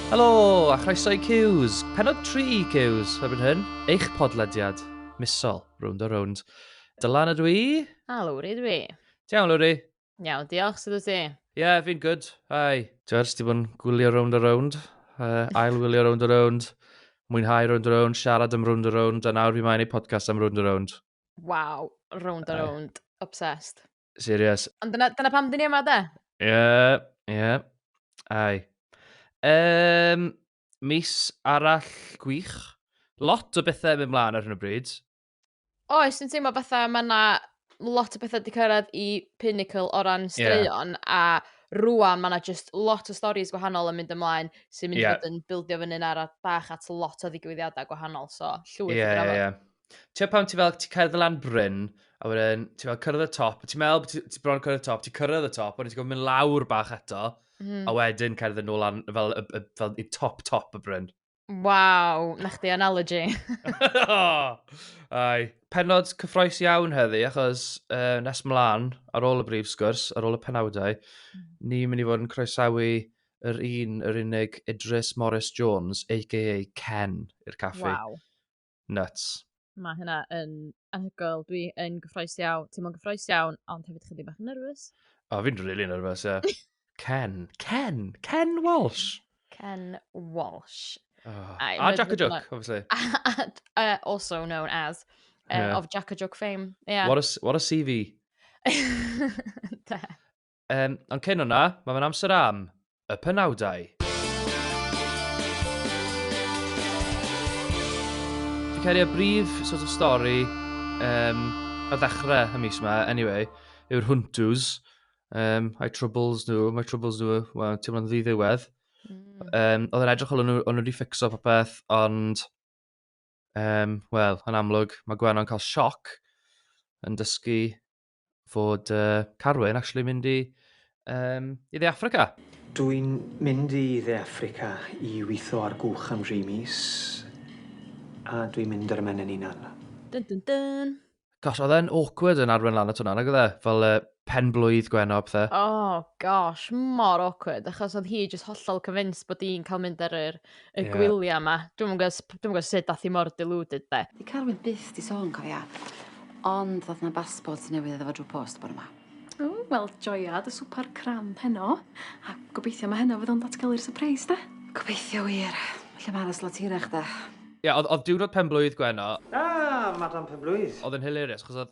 Helo, a chroeso i Cews. Penod 3 i Cews, erbyn hyn, eich podlediad misol, rownd o rownd. Dylan ydw i. A Lowri ydw i. Tiawn, Lowri. Iawn, diolch, sydd o ti? Yeah, fi'n good. Hi. George, ti bod yn gwylio round a round, uh, ail wylio round a round, mwynhau round a round, siarad am round a round, a nawr fi mae'n ei podcast am round a round. Wow, round a round. Obsessed. Serious. Ond dyna, dyna pam dyn ni yma, de? Ie, yeah, ie. Yeah. Ai. Um, mis arall gwych. Lot o bethau yn mynd mlaen ar hyn o bryd. Oes, dwi'n teimlo fatha mae yna lot o bethau wedi cyrraedd i pinnacle o ran straeon, yeah. a rwan mae yna just lot o storys gwahanol yn mynd ymlaen sy'n mynd yeah. i fod yn bildio fyny'n ar bach at lot o ddigwyddiadau gwahanol, so llwyth yeah, i drafod. Yeah, yeah. Ti'n pan ti fel, ti cerdd y lan bryn, a wedyn ti fel cyrraedd y top, ti'n meddwl bod ti bron cyrraedd y top, ti cyrraedd y top, wedyn ti'n gofyn mynd lawr bach eto, mm. a wedyn cerdd yn ôl lan, fel, fel, fel, fel top top y bryn. Waw, na chdi analogy. Ai. Penod cyffroes iawn heddi, achos uh, nes mlaen, ar ôl y brif sgwrs, ar ôl y penawdau, mm. ni'n mynd i fod yn croesawu yr un, yr unig Idris Morris Jones, a.k.a. Ken, i'r caffi. Wow. Nuts. Mae hynna yn anhygoel. Dwi yn gyffroes iawn, ti'n mwyn gyffroes iawn, ond hefyd chydig bach yn nervous. O, oh, fi'n rili really nervous, ie. Yeah. Ken. Ken. Ken Walsh. Ken Walsh. Oh. I, a Jack a Joke, like, obviously. And, uh, also known as, uh, yeah. of Jack a Joke fame. Yeah. What a, what a CV. Um, ond cyn hwnna, mae fe'n amser am y penawdau. Fi'n cael ei brif sort of stori um, a ddechrau y mis yma, anyway, yw'r Huntws. Um, I troubles nhw, my troubles nhw, well, ti'n mynd ddiwedd. Mm. Um, oedd yn edrych o'n nhw wedi ffixo popeth, ond, um, wel, yn amlwg, mae Gwenno'n cael sioc yn dysgu fod uh, Carwyn actually mynd i, um, i dde Africa. Dw i'n mynd i dde Africa i weithio ar gwch am dri mis, a dw i'n mynd yr ymen yn unan. Dun dun dun. Gosh, oedd e'n awkward yn arwen lan at hwnna, nag oedd e? Fel uh, pen blwydd gweno a pethau. Oh gosh, mor awkward, achos oedd hi just hollol convinced bod i'n cael mynd ar yr y yeah. gwyliau yma. Dwi'n gwybod sut dath i mor deluded de. Di Carwyn byth di sôn, cofia. Ond ddoth na basbort newydd iddo fo drwy post bod yma. O, wel, joiad y swper cram heno. A gobeithio mae heno fydd o'n datgelu'r surprise, da. Gobeithio wir. Felly mae aros lot hirach, da. Ie, yeah, oedd diwrnod pen blwydd Gwenno... Ah, Madam Pen Blwydd. Oedd yn hilarious, chos oedd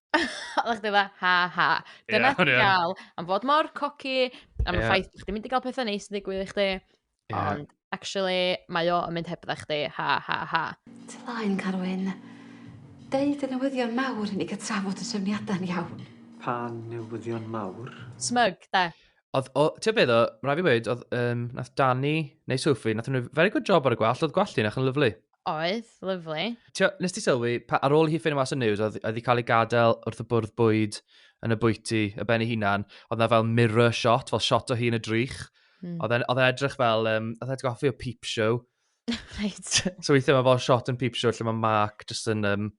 Oeddach chdi fatha, ha ha. Ie, Dyna o'n i ti'n yn. gael am fod mor coci, am y Ie. ffaith bod chdi'n mynd i gael pethau neis yn digwydd i chdi. Ie. Ond, actually, mae o yn mynd hebdda chdi, ha ha ha. Ti laen, Carwyn. Deud y newyddion mawr i ni ga'l trafod y trefniada'n iawn. Pa newyddion mawr? Smug, de. Oedd, o, ti'n beth o, rhaid fi weud, oedd, um, nath Dani, neu Sophie, nath nhw very good job ar y gwallt, oedd gwallt i'n eich yn lyflu. Oedd, lyflu. Tio, nes ti sylwi, pa, ar ôl hi ffynnu mas y news, oedd wedi cael ei gadael wrth y bwrdd bwyd yn y bwyty, y ben ei hunan, oedd na fel mirror shot, fel shot o hi yn y drych. Mm. Oedd e'n edrych fel, um, oedd e'n goffi o peep show. right. so weithiau mae fel shot yn peep show lle mae Mark jyst yn um,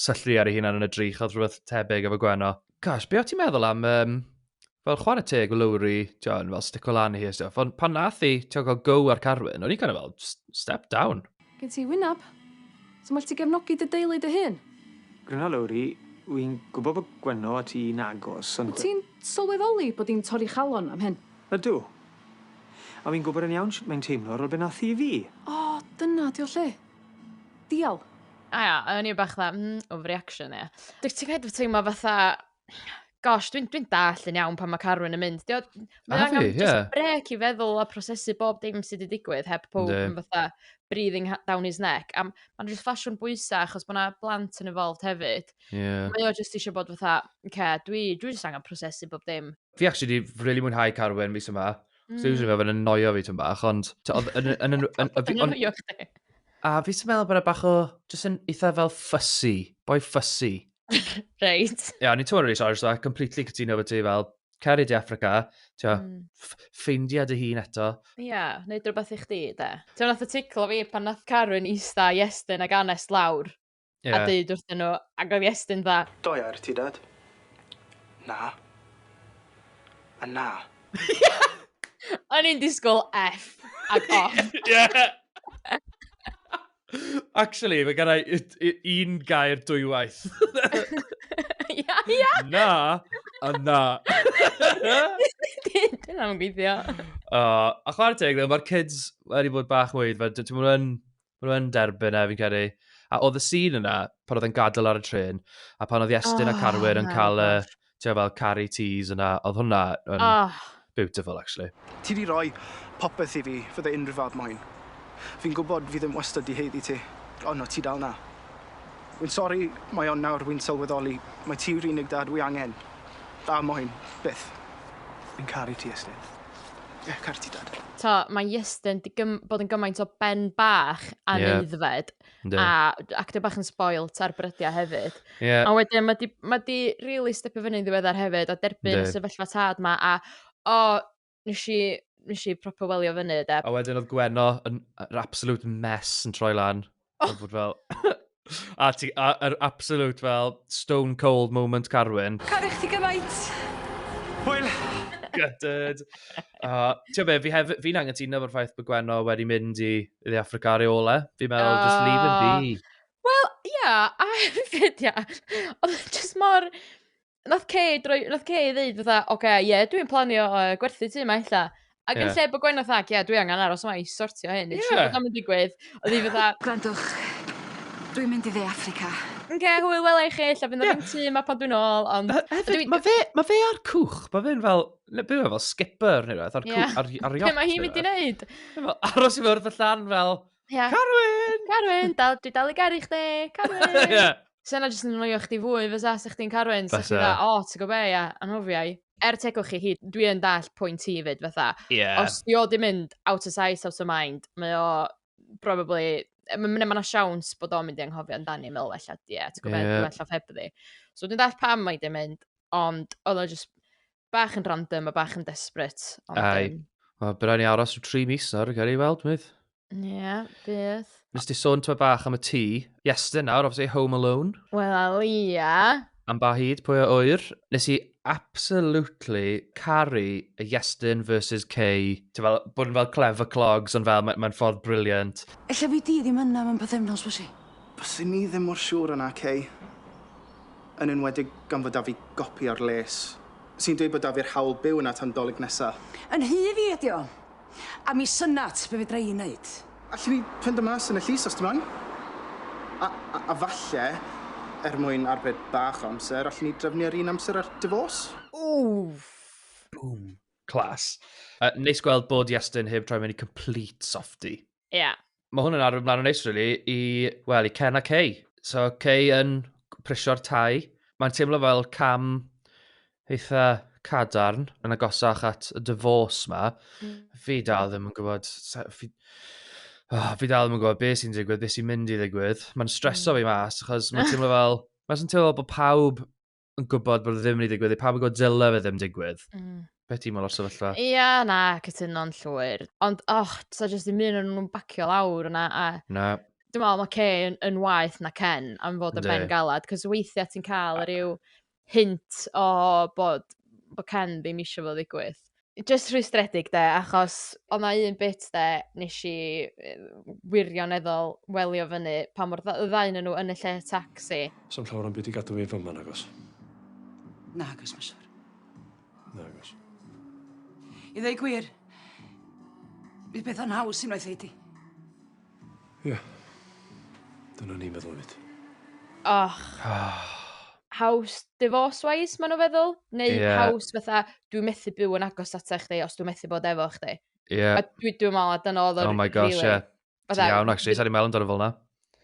syllu ar ei hunan yn y drych, oedd rhywbeth tebyg efo Gwenno. Gosh, be o ti'n meddwl am um, fel chwarae teg o Lowry, ti'n fel stico lan i hi a stuff, ond pan nath i, ti'n cael go ar Carwyn, o'n i'n kind of fel, step down. Gen ti wyneb. Ti'n well ti gefnogi dy deulu dy hun. Gryno Lowri, wy'n gwybod bod Gwenno a ti'n agos, ond... Wyt ti'n sylweddoli bod hi'n torri chalon am hyn? Ydw. A wy'n gwybod yn iawn sut mae'n teimlo ar ol be nath hi i fi. O, dyna di o lle. Dial. A ia, a o'n i bach fatha, mm, overreaction ia. Dwyt ti'n kind of teimlo fatha, gosh, dwi'n dwi dall yn iawn pan mae Carwyn yn mynd. Dio, mae angen yeah. just brec i feddwl a prosesu bob dim sydd wedi digwydd heb pob yn fatha breathing down his neck. A mae'n just ffasiwn bwysau achos bod yna blant yn involved hefyd. Yeah. Mae o just eisiau bod fatha, okay, dwi, dwi just angen prosesu bob dim. Fi actually wedi really mwynhau Carwyn mis yma. Mm. So usually mae'n annoio fi tyn bach, ond... A fi sy'n meddwl bod yna bach o... Just yn eitha fel fussy. Boi fussy. Reit. Ia, o'n i'n totally sorry, so I completely cytuno fo ti fel, cer i di Africa, ti'n mm. ffeindia dy hun eto. Ia, yeah, neud rhywbeth i chdi, de. Ti'n nath y ticlo fi pan nath Carwyn eista Iestyn ag Anes lawr. Yeah. A dweud wrth nhw, ac oedd Iestyn dda. Do ia, ti dad? Na. A na. O'n i'n disgwyl F ac off. Ie. Actually, mae gen i y- y- un gair dwywaith. Ia, ia! Na, a na. Dyna'n gweithio. O, a chwarae teg, ddo, mae'r kids wedi bod bach weid, fe, d- maen nhw yn- maen nhw yn derbyn e, fi'n credu. A oedd y scene yna, pan oedd e'n gadael ar y trên, a pan oedd Iestyn a Oh, Carwyn yn my cael y, gosh. ti'n fel Carrie Tees yna, oedd hwnna yn oh. beautiful actually. Ti di roi popeth i fi, fydde unrhyw fab moyn. Fi'n gwybod fi ddim wastad di heiddi ti, ond no ti dal na. Wy'n sori, mae ond nawr wy'n sylweddoli, mae ti yw'r unig dad wy angen. Da moyn, byth. Fi'n caru ti, Estyn. Ie, yeah, caru ti, dad. Ta, mae Iestyn di bod yn gymaint o ben bach a yeah. neuddfed. Ynddi. A ac dwi bach yn spoilt ar brydiau hefyd. Yeah. A wedyn mae di, ma di really stepio fyny'n ddiweddar hefyd a derbyn y Yndi. sefyllfa tad ma a o, nes i, nes i proper welio fyny de. A wedyn oedd Gwenno yn yr absolute mess yn troi lan. Oh. Oedd bod fel... a ti, a, yr absolute fel stone cold moment Carwyn. Caru chdi gymaint. Hwyl! Gutted. Uh, Ti'n be, fi hef- fi'n angytuno fo'r ffaith bod Gwenno wedi mynd i I the Africa ar ei ole. Fi'n meddwl, uh, just leave him be. Wel, ia, yeah, a hefyd, ia. Oedd just mor... Nath Kay, droi, nath Kay ddeud fatha, oce, okay, ie, yeah, dwi'n planio uh, gwerthu ti yma illa. Ac yn lle bod gwain oedd ac, ie, dwi angen aros yma i sortio hyn. Ie. Yeah. Dwi'n digwydd. Oedd hi fatha... Gwrandwch, dwi'n mynd i dde Africa. Yn ge, hwyl wela i chi, lle fynd o'r yeah. tîm a pan dwi'n ôl, ond... Hefyd, mae fe, ma fe ar cwch, mae fe'n fel, Ne, byw fel skipper neu beth, ar, yeah. ar, ar yacht. Be mae hi'n mynd i wneud? Aros i fyrdd y llan fel, yeah. Carwyn! Carwyn, dal, dwi dal i garu chdi, Carwyn! yeah. So yna jyst yn anoio chdi fwy, fysa, sa chdi'n Carwyn, sa chdi'n dda, o, ti'n gwybod be, ia, anhofiau. Er tegwch chi hyd, dwi yn dall pwynt ti fyd, fatha. Yeah. Os di o di mynd out of sight, out of mind, mae o probably Mae'n yna siawns bod o'n mynd i anghofio amdani, meddwl, efallai, ie, ti'n gwybod, yeah. dwi'n allan ffebyddi. So dwi'n dall pam mae di mynd, Ond oedd o just bach yn random a bach yn desperate. Ond, Ai. Um, Wel, bydd rhaid ni aros o tri mis nawr, gael ei weld, mydd. Ie, yeah, bydd. Nes ti sôn tyma bach am y tŷ. Iestyn nawr, obviously, Home Alone. Wel, ie. Yeah. Am ba hyd, pwy o oer. Nes i absolutely caru y Iestyn versus Kay. Ti'n fel, bod yn fel clever clogs, ond fel, mae'n ma ffordd briliant. Ella fi di ddim yna mewn pethefnos, fysi? Bysyn ni ddim mor siŵr yna, Kay. yn enwedig gan fod 'da fi gopi o'r les sy'n dweud bod 'da fi'r hawl byw yna tan Dolig nesa. Yn rhy fi ydi o. A mi synat be' fedra i neud. Allwn i fynd â mas yn y llys os ti moyn? A a a falle, er mwyn arbed bach o amser, allwn i drefnu ar un amser ar Divorce? Wwff! Boom. Class. Yy neis gweld bod Iestyn heb troi mewn i complete softie. Ie. Yeah. Mae hwn yn arwydd mlaen yn neis, really, i, well, i Ken a Kay. So, Kay yn prisio'r tai. Mae'n teimlo fel cam eitha cadarn yn agosach at y divorce ma. Mm. Fi dal ddim yn gwybod... Fi, oh, fi dal ddim yn gwybod beth sy'n digwydd, beth sy'n mynd i ddigwydd. Mae'n streso mm. fi mas, achos mae'n teimlo fel... Mae'n teimlo fel bod pawb yn gwybod bod e ddim wedi digwydd, pa bod dyle fe ddim digwydd. Mm. Beth ti'n meddwl o'r sefyllfa? Ia, yeah, na, cytuno'n llwyr. Ond, och, so jyst ddim un o'n nhw'n bacio lawr yna. A... Na. Dwi'n meddwl, mae Kay yn, yn waith na Ken am fod y ben galad, cos weithiau ti'n cael yr yw hint o bod, bod Ken ddim eisiau fod ddigwydd. jyst rhwystredig 'de achos o' 'na un bit 'de nesh i yy wirioneddol welio fyny pan mo'r dda- y ddau o'nyn nw yn y lle tacsi. Sa'm llawar o'm byd i gadw fi fy ma nagos? Nagos ma' siŵr. Nagos. I ddeu gwir bydd peth yn haws unwaith ei di. Ie. Dyna ni'n feddwl hefyd. Och. Oh. Haws divorce wise ma' nhw feddwl? Neu yeah. haws fatha, dwi methu byw yn agos at eich di os dwi methu bod efo chdi. Ie. Yeah. Dwi, dwi meddwl a dyna oedd o'r... Oh my gosh, ie. Yeah. Ti'n iawn, actually, sa'n i'n meddwl amdano fel na.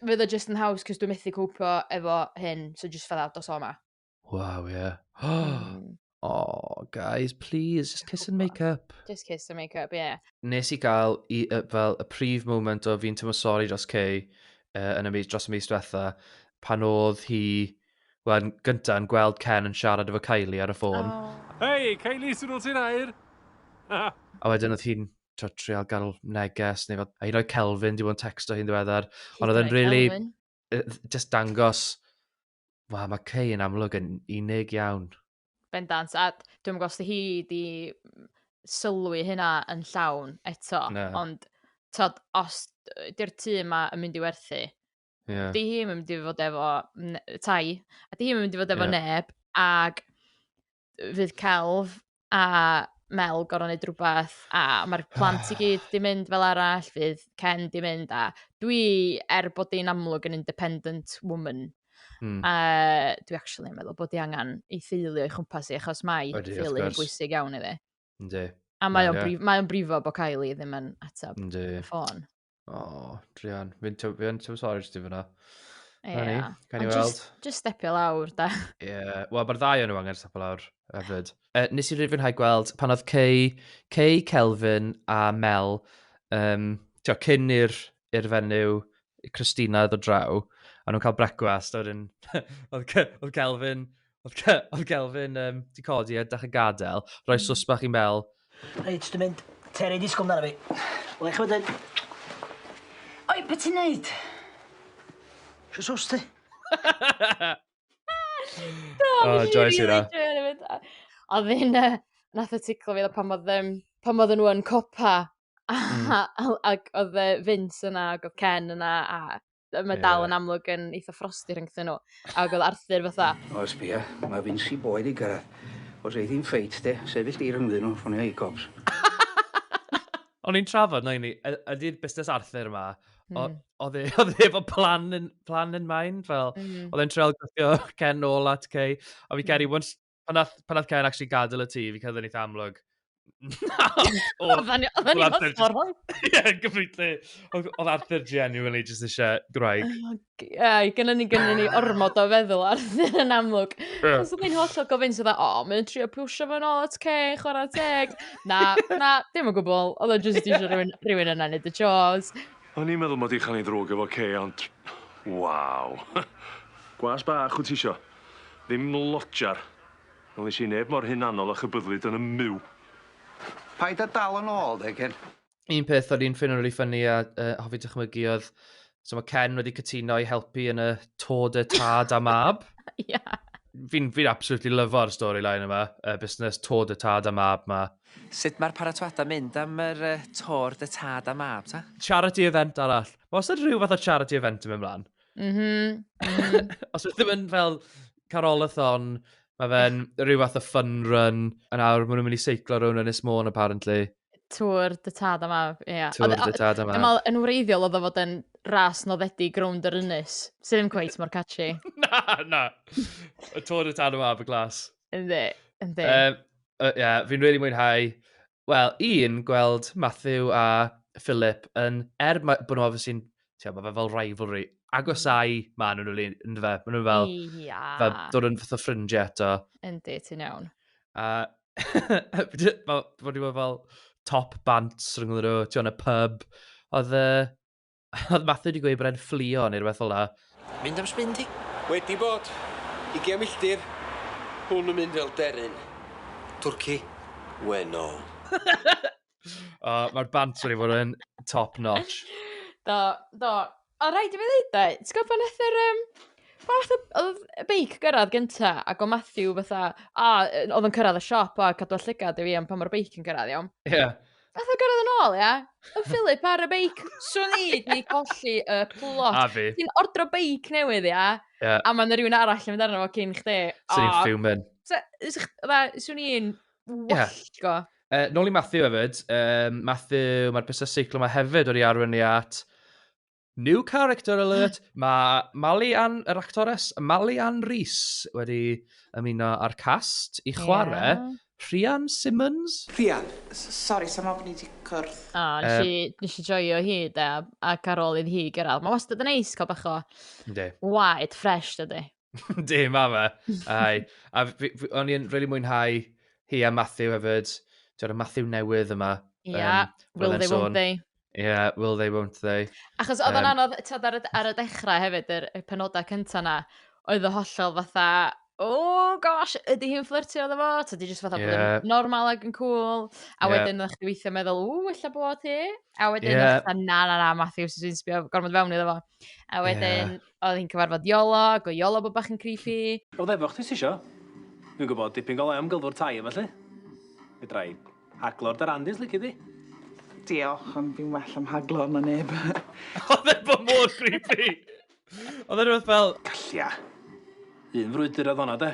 Fydd o just yn haws, cys dwi methu cwpio efo hyn, so just fatha dos o ma. Waw, ie. Yeah. Mm. Oh, guys, please, just kiss and make up. Just kiss and make up, yeah. Nes i gael i, uh, fel y prif moment o fi'n tymor sori dros Kay uh, yn y mis, dros y mis diwetha, pan oedd hi, wel, gyntaf yn gweld Ken yn siarad efo Kylie ar y ffôn. Oh. Hei, Kylie, sy'n ôl ti'n air? a wedyn oedd hi'n trial gael neges, neu fod, a hi'n rhoi Kelvin, di bod yn texto hi'n ddiweddar, ond oedd yn really, just dangos Wel, mae Kay yn amlwg yn unig iawn. Bendant, a dwi'n gwybod os hi di sylwi hynna yn llawn eto, no. ond tod, os di'r tu yma yn mynd i werthu, yeah. di hi yn mynd i fod efo tai, a di hi yn mynd i fod efo yeah. neb, ac fydd celf a Mel gorau wneud rhywbeth a mae'r plant i gyd di mynd fel arall, fydd Ken di mynd a dwi, er bod di'n amlwg yn independent woman, mm. uh, dwi actually yn meddwl bod di angen ei theulu o'i chwmpas i achos mae theulu yn bwysig iawn iddi. Ynddi. A mae o'n brif, mae brifo bod Kylie ddim yn ateb y ffôn. O, Drian. Fi'n tyw- fi yn tyw sori ti fyna. Ie. Rhaid ni, gawn ni Ond weld. jyst- Jyst stepio lawr, da. Ie, yeah. wel, mae'r ddau o'n nhw angen stop lawr hefyd. Uh, nes i rifynhau gweld pan oedd Cei, Cei Kelvin a Mel, um, tio, cyn i'r i'r fenyw Christina ddod draw, a nhw'n cael brecwast, a wedyn, oedd, Ce- oedd Kelvin Oedd, Ke oedd Kelvin um, di codi a dach y gadael, rhoi mm. sus bach i'n bel. Reit, dwi'n mynd. Terry, disgwyl amdano fi. Wel, eich wedyn. Oi, beth ti'n neud? Sio sus ti? Do, oh, joes i na. A ddyn, uh, nath y ticlo fi, pan oedd, um, pan oedd nhw yn copa, mm. ac oedd Vince yna, ac oedd Ken yna, a Mae yeah. dal yn amlwg yn eitha frosti rhyngthyn nhw. A oedd Arthur fatha... O, sbia, mae Vinci boed i gyrraedd. Os ei ddim ffeit, de, sefyll di rhyngddyn nhw, ffonio i cops. O'n i'n trafod, na i ni, ydy'r busnes Arthur yma, Mm. Oedd e, oedd e efo plan in, plan in mind, fel, mm. oedd e'n treol gwthio Ken nôl at Kay, a fi mm. geri, once, Pan nath, pan nath Ken actually gadael y tŷ, fi cael ddyn eitha amlwg. Na! Oedden ni oedden ni mor Ie, gyfrifle. Oedd Arthur genuinely just eisiau gwraig. Ie, gynna ni gynna ni ormod o feddwl Arthur yn amlwg. Os oedd hi'n holl o gofyn sydd o, mae'n trio pwysio fo'n ôl at Ken, chwarae teg. Na, na, dim o gwbl. Oedd o'n just eisiau rhywun, rhywun yna neud y chores. O'n i'n meddwl mod i'n chael ei ddrwg efo Kay, ond... Waw. Gwas bach, wyt ti eisiau? Ddim lodger. Wnes i neb mor hunanol a chybyddlyd yn 'm myw. Paid a dal yn ôl de Ken. Un peth o'n i'n ffeindo rili ffyni a yy hoffi dychmygu oedd so ma' Ken wedi cytuno i helpu yn y Tour de Tad a Mab. Ie. Fi'n fi'n absolutely lyfo'r storyline yma, y busnes Tour de Tad a Mab 'ma. Sut mae'r paratoadau'n mynd am yr yy Tour de Tad a Mab ta? Charity event arall. Ma' wastad rhyw fath o charity event yn mynd mlan. Mhm, mhm. Os ydych ddim yn fel carolathon, mae fe'n rhyw fath o fun run, a nawr maen nhw'n mynd i seiclo rhywun yn Ysmôn, apparently. Tŵr dy tad am af, ie. Yeah. Tŵr dy tad am af. Yn wreiddiol oedd o fod yn ras noddedig grwnd yr ynys, sydd ddim cweith mor catchy. na, na. Y tŵr dy tad am af y glas. Ynddi, ynddi. Ie, um, uh, yeah, fi'n really mwynhau. Wel, un, gweld Matthew a Philip yn, er ma- bod nhw obviously yn, ti'n gwbod, mae fe fel rivalry, agosau ma nhw'n rili, ynddo fe, maen nhw fel, Ia. fel dod yn fath o ffrindiau eto. Yndi, ti'n iawn. A fel, bod nhw fel top bant rhwng nhw, ti'n gwbod, yn y pub. Oedd, yy, Oedd Matthew wedi gweud bod e'n fflio neu rhywbeth fel la. Mynd am sbin ti? Wedi bod. Ugian milltir. Hwn yn mynd fel deryn. Twrci. Wennol. o, mae'r banter i fod yn top notch. Do, do. O, rhaid i fi ddeud da, ti'n gwybod pan nath yr... Um, pan nath y beic gyrraedd gynta, ac o Matthew fatha, a oedd yn cyrraedd y siop, a cadw llygad i fi am pan mae'r beic yn gyrraedd, iawn? Ie. Yeah. Nath o gyrraedd yn ôl, ia? Y Philip ar y beic. Swn i di colli y plot. A fi. Ti'n ordro beic newydd, ia? Ie. A mae yna rhywun arall yn mynd arno fo cyn chdi. Swn i'n fuming. Swn i'n wallgo. Uh, nôl i Matthew hefyd. Um, Matthew, mae'r busnes seiclo yma hefyd wedi arwyn ni at New character alert! Mae Mali Ann, yr actores, Mali Ann Rhys wedi ymuno â'r cast i chwarae yeah. Rhian Simmons. Rhian, sori, sa'n meddwl bod ni wedi cwrdd. O, oh, nes, um, nes i joio hi, da, ac ar ôl idd hi gyrraedd. Mae wastad yn neis cael bach o waed ffres, dydy. Di, ma fe. Ai. A o'n i'n really mwynhau hi a Matthew hefyd. Dyna Matthew newydd yma. Ia, yeah, um, will they, won't they. Ie, yeah, will they, won't they. Achos oedd o'n um, anodd, tyd, ar, ar y dechrau hefyd, yr, y penodau cyntaf na, oedd o hollol fatha, oh gosh, ydy hi'n fflirtio oedd fo? Ta di jyst fatha yeah. bod yn normal ag yn cool. A yeah. wedyn ydych chi weithio meddwl, ww, illa bod hi. A wedyn yeah. ydych na, na, na, Matthew, sy'n sbio gormod fewn iddo fo. A wedyn, yeah oedd hi'n cyfarfod Iolo, ac o Iolo bod bach yn creepy. Oedd efo chdi ti isio? Dwi'n gwybod dipyn golau am gylfwr tai efo lle. Fedra i haglo'r darandis lici di. Diolch, ond fi'n well am haglo na neb. oedd efo mor creepy! Oedd e rhywbeth fel... Gallia. Un frwydr oedd honna de.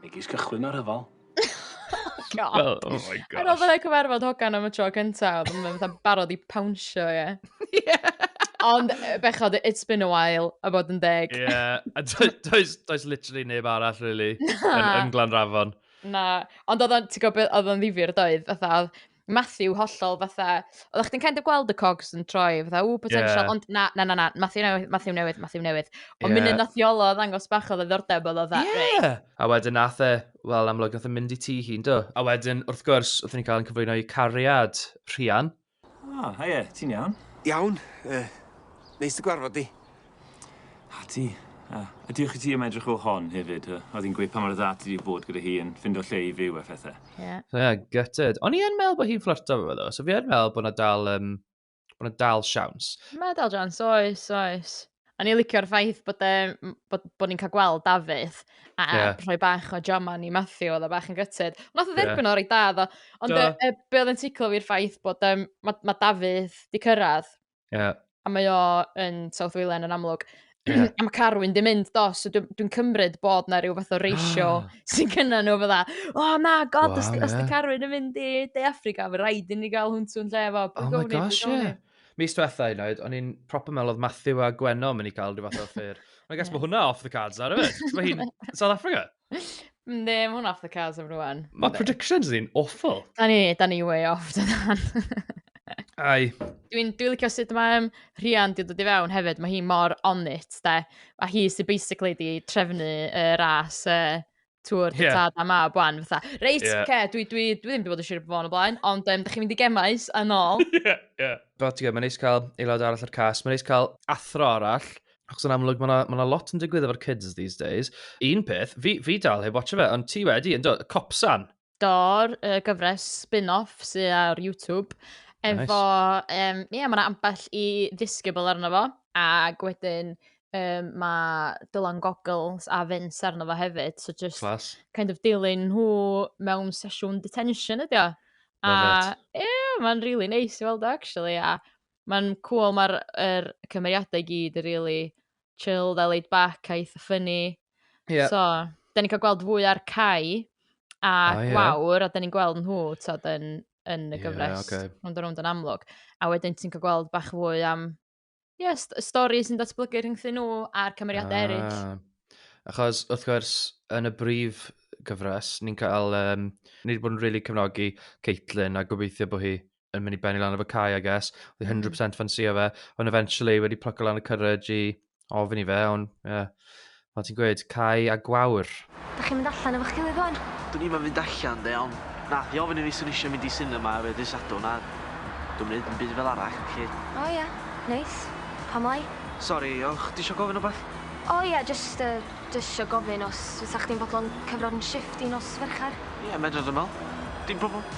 Megis cychwyn a rhyfel. Oh, God. Well, oh my gosh. Ar ôl fydda cyfarfod hogan am y tro cyntaf, oedd yn fatha barod i pawnsio, ie. Yeah. Ond eh, bechod, it's been a while, a bod yn deg. Ie, yeah. a does, does literally neb arall, really, yn, yn Glanrafon. Na, ond oedd o'n, ti'n gwybod, oedd o'n ddifir doedd, fatha, Matthew hollol fatha, oeddech chdi'n kind of gweld y cogs yn troi, fatha, ww, potential, yeah. ond na, na, na, na, Matthew newydd, Matthew newydd, Matthew newydd. Ond yeah. munud nath Iolo ddangos bach o ddordeb oedd o dda, yeah. A wedyn nath e, wel, amlwg nath e mynd i ti hi'n do. A wedyn, wrth gwrs, wrth ni'n cael yn cyflwyno i cariad Rhian. Ah, oh, ie, ti'n iawn? Iawn, uh, neis dy gwarfod di. A ti? A ydy chi ti am edrych o hon hefyd? Oedd hi'n gweud pa mor dda ti wedi bod gyda hi yn ffindo lle i fyw a phethau. Ie. Yeah. Ie, yeah, gutted. O'n i yn meddwl bod hi'n fflyrto fo ddo, so fi yn meddwl bod yna dal, um, bod yna dal siawns. Mae dal siawns, oes, oes. O'n i'n licio'r ffaith bod, e, bod, bod ni'n cael gweld Dafydd a yeah. rhoi bach o Joman i Matthew, oedd o bach yn gytid. Nath o dderbyn yeah. o'r ei dad o, ond y, y, be oedd yn ticlo fi'r ffaith bod um, mae ma Dafydd di cyrraedd Yeah. A mae o yn South Wayland yn amlwg. Yeah. a mae Carwyn di mynd do, so dwi'n dwi cymryd bod na rhyw fath o reisio sy'n cynna nhw fydda, o oh, na, god, wow, os, yeah. os di Carwyn yn mynd i De Africa, fe rhaid i ni gael hwntw'n lle fo. Oh my gosh, ie. Yeah. Mis diwetha i oed, o'n i'n proper meddwl oedd Matthew a Gwenno mynd i cael rhyw fath o ffyr. I guess yeah. mae hwnna off the cards ar yfyd. Mae hi'n South Africa. Yndi, mae hwnna off the cards am rwan. Mae predictions ni'n awful. Da ni, da ni way off, da dan. Ai. Dwi'n dwi licio sut mae um, Rhian di dod i fewn hefyd. Mae hi mor on it, da. A hi sy'n basically di trefnu uh, ras uh, tŵr yeah. tad a mab wan. Fatha, reit, yeah. ce, dwi, dwi, dwi ddim wedi bod yn siarad bod yn y blaen, ond um, da chi'n mynd i gemais a nôl. yeah, yeah. Fel ti'n gwybod, mae'n neis cael aelod arall o'r cas. Mae'n neis cael athro arall Achos yn amlwg, mae yna lot yn digwydd efo'r kids these days. Un peth, fi, fi dal heb watch fe, ond ti wedi, yn dod, Copsan. Do'r uh, gyfres spin-off sydd ar YouTube. Efo, nice. um, yeah, mae yna ambell i ddisgybl arno fo, ac wedyn um, mae Dylan Goggles a Vince arno fo hefyd. So just Class. kind of dilyn nhw mewn sesiwn detention ydi o. A, ie, yeah, mae'n really nice i weld o, actually. A Mae'n cool, mae'r er, cymeriadau i gyd yn really chilled a laid back a eitha ffynnu. Yeah. So, da ni'n cael gweld fwy ar Cai a oh, yeah. Gwawr, a da ni'n gweld nhw tod, yn, yn y gyfres, yeah, okay. rhwnd o rhwnd yn amlwg. A wedyn ti'n cael gweld bach fwy am yeah, st stori sy'n datblygu rhyngthyn nhw a'r cymeriadau ah. eraill. Achos, wrth gwrs, yn y brif gyfres, ni'n cael, um, ni wedi bod yn rili really cefnogi Caitlin a gobeithio bod hi yn mynd i benni lan efo Kai, I guess. Oedd 100% ffansio fe. Ond eventually wedi plucko lan y courage i ofyn i fe, ond, ie. Yeah. Fel ti'n gweud, Kai a Gwawr. Da chi'n mynd allan efo'ch gilydd rwan? Dwn ni'n mynd allan, de, ond nath i ofyn i fi sy'n eisiau mynd i cinema efo dys adwn a dwi'n mynd yn byd fel arall, felly. O, ie. Neis. Pam lai? Sori, o'ch di eisiau gofyn o beth? O, ie, just, uh, just eisiau gofyn os fysa chdi'n fodlon cyfro'n shift i nos ferchar? Ie, yeah, medra dwi'n meddwl. Dim problem.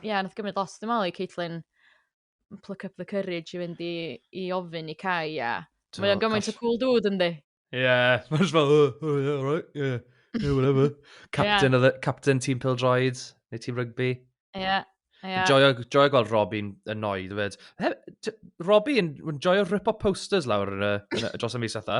Ia nath gymryd lot dwi me'wl i Caitlyn pluck up the courage i fynd i i ofyn i Cai a mae o'n gymaint o cŵl dŵd yndi? Ie, mae'n just fel, oh, oh yeah, alright, yeah, yeah, whatever. Captain, yeah. the, captain tîm pildroed, neu tîm rygbi. Ie. Yeah. Yeah. Joio, joio gweld Robbie'n annoyed fyd. Robbie yn joio rip-up posters lawr yn y, yn y, dros y mis atho.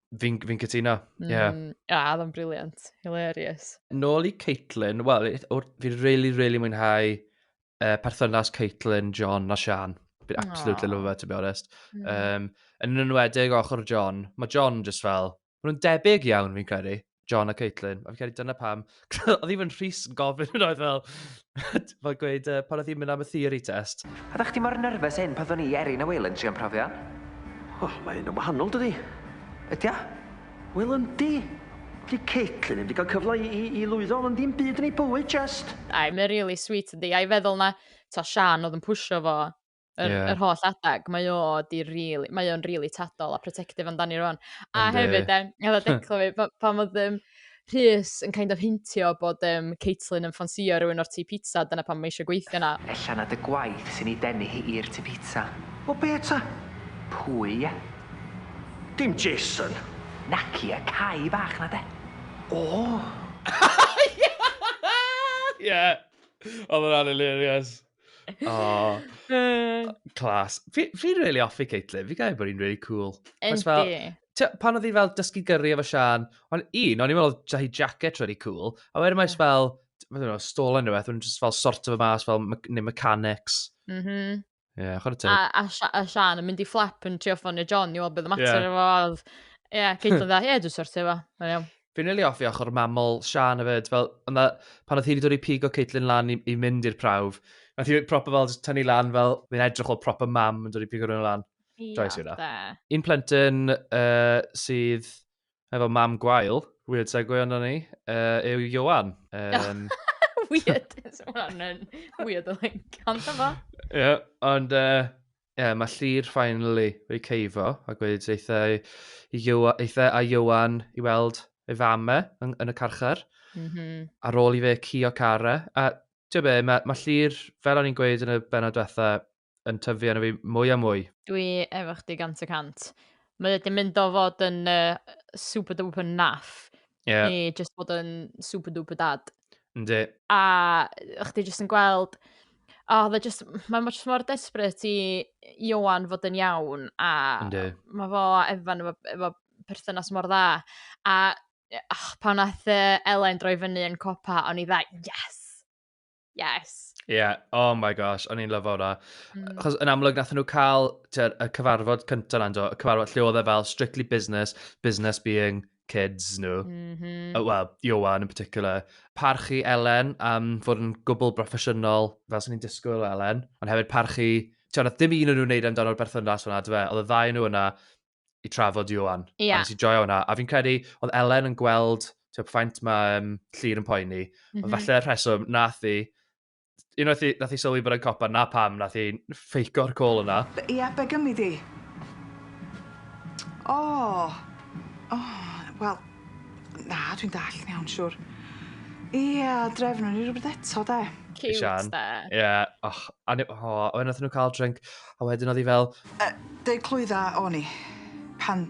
Fi'n fi cytuno, ie. Yeah. Mm, a, oedd o'n briliant. Hilarious. Nôl i Caitlin, wel, fi'n really, really mwynhau uh, perthynas Caitlin, John a Sian. Fi'n absolutely Aww. love her, to be honest. Mm. Um, yn enwedig ochr John, mae John just fel, maen nhw'n debyg iawn fi'n credu. John a Caitlin. A fi'n credu dyna pam... oedd even Rhys yn gofyn yn oedd fel... fel gweud, uh, pan oedd hi'n mynd am y theory test. A ddech chi mor nerfus hyn pan ddwn i, Erin a Will yn trio'n profion? O, oh, mae hyn yn wahanol, dydy? Ydy o? Wel, yndi. Di Caitlin ddim wedi cael cyfle i, i, i lwyddo ond dim byd yn ei bywyd, just. Ai, mae'n really sweet, yndi. A'i feddwl na, to, Sian oedd yn pwysio fo yr, yeah. yr holl adag, mae o di really, mae o'n really tadol a protective amdani rwan. A And, hefyd, uh... e, efo declo fi, pa, pan oedd um, Rhys yn kind of hintio bod um, Caitlin yn ffansio rhywun o'r tu pizza, dyna pan mae eisiau gweithio na. Ella na dy gwaith sy'n ei denu hi i'r tu pizza. O be ta? Pwy, ie? Dim Jason. Naci, y cae bach na de. O! Ie! Oedd yn anilirious. Oh, class. Fi'n fi really offi Caitlin, fi'n gael bod hi'n really cool. Yndi. Pan oedd hi fel dysgu gyrru efo Sian, ond un, o'n i'n meddwl oedd hi jacket really cool, a wedyn mae'n fel, mae'n meddwl, stol yn rhywbeth, mae'n just fel sort of y mas, fel, neu mechanics. Mm -hmm. Yeah, chod y teg. A, a, a Sian yn mynd i fflap yn trio ffonio John i weld beth y mater yeah. efo. Ie, yeah, Caitlin dda, ie, dwi'n sortio efo. Fi'n rili hoffi ochr mamol Sian hefyd, fel yna pan oedd hi wedi dod i pigo Caitlin lan i, i mynd i'r prawf, nath hi proper fel jyst tynnu lan fel fi'n edrych fel proper mam yn dod i pigo rhywun lan. Joyce yw na. Un plentyn uh, sydd efo mam gwael, weird segue ond ni, uh, yw Johan. Um, weird, hwnna'n weird o like, ond efo. Ie, ond uh, Ie, mae Llyr finally wedi ceifo a gweud eitha i Iwan i weld ei fam e yn, yn y carchar. Mm -hmm. Ar ôl i fe cio cara. A ti'n be, mae, mae Llyr, fel o'n i'n gweud yn y benod diwetha, yn tyfu arno fi mwy a mwy. Dwi efo chdi gant y cant. Mae wedi mynd o fod yn uh, super duper naff yeah. i just bod yn super duper dad. Yndi. A chdi jyst yn gweld, o, oh, just, mae just mor desbryd i Iwan fod yn iawn, a Yndi. mae fo a Evan efo, efo perthynas mor dda. A oh, pan nath uh, Elain droi fyny yn copa, o'n i dda, yes! Yes. Yeah, oh my gosh, o'n i'n lyfo hwnna. Mm. Chos yn amlwg nath nhw cael y cyfarfod cyntaf na, y cyfarfod lle oedd e fel strictly business, business being kids nhw. Mm -hmm. Wel, Iowan yn particular. Parchu Elen am fod yn gwbl broffesiynol, fel sy'n ni'n disgwyl o Elen. Ond hefyd parchu... Ti'n oedd dim un o'n nhw'n wneud amdano'r berthynas hwnna, dwi fe. Oedd y ddau nhw yna i trafod Iowan. Yeah. A nes i joio hwnna. A fi'n credu, oedd Elen yn gweld ti'n ffaint mae um, llir yn poeni. Mm -hmm. Ond mhm. falle rheswm, nath i unwaith i, nath i sylwi bod e'n copa, na pam, nath i ffeico'r col yna. Ie, yeah, be gymryd i? O! Oh. O, oh, wel, na, dwi'n dall yn iawn, siwr. Ie, yeah, drefnwn ni rhywbeth eto, de. Cute, de. Ie, yeah. och, a ni, oh, wedyn nath nhw cael drink. A wedyn oedd hi fel... Yy, deu clwydd a o'n i, pan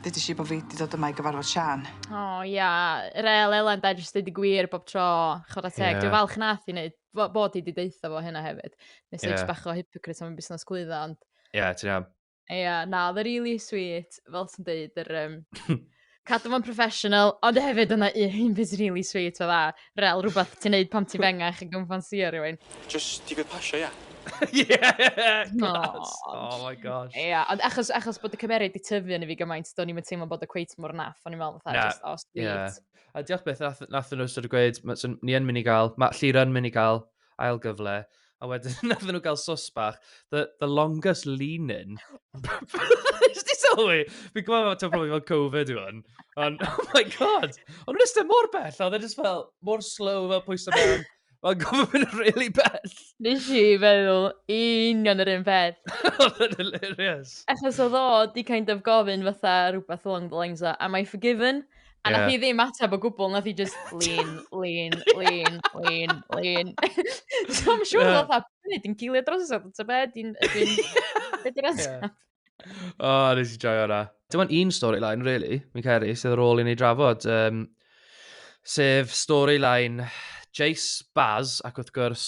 ddeudis i bod fi wedi dod yma i gyfarfod Siân. O, oh, ia. Yeah. Rel Elen, da, jyst dweud y gwir bob tro. Chod a teg. Yeah. Dwi'n falch nath i wneud, bod i wedi deitha fo hynna hefyd. Nes yeah. eich bach o hypocrite am y busnes clwydda, ond... Ie, yeah, ti'n iawn. Ie, yeah, na, oedd e really sweet, fel ti'n deud, yr... Um, cadw fo'n professional, ond hefyd yna un beth sy'n really sweet o dda, rel rhywbeth ti'n neud pam ti'n fengach yn gymffansio rhywun. Just di gwyd pasio, ia. yeah! Class. Oh my gosh. Ia, yeah, ond achos, achos bod y cymeriad di tyfu yn i fi gymaint, do'n i'n teimlo bod y cweit mor naff, o'n i'n meddwl fatha, yeah. just, oh, sweet. Yeah. A diolch beth, nath, nath nhw sort of gweud, ni yn mynd i gael, mae Llira yn mynd i gael ail gyfle, a wedyn nathon nhw gael sos bach, the, the longest lean-in. Nes ti sylwi? Fi'n gwybod fod ti'n profi fel Covid yw hwn. Ond, oh my god! Ond nhw'n ystod mor bell, oedd e just fel, mor slow fel pwysau mewn. Mae'n gofyn mynd really bell. Nes i feddwl union yr un peth. oedd e'n hilarious. Achos oedd o di kind of gofyn fatha rhywbeth along the lines o, am I forgiven? A nath hi ddim ateb o gwbl, nath hi just lean, lean, lean, lean, lean. so I'm sure yeah. fatha, ni di'n gilio drosodd, ta be, di'n... Be di'r ateb? O, nes i joio hwnna. Dim ond un storyline, really, mi'n cael ei, sydd ar ôl i ni drafod. Um, sef storyline Jace, Baz, ac wrth gwrs,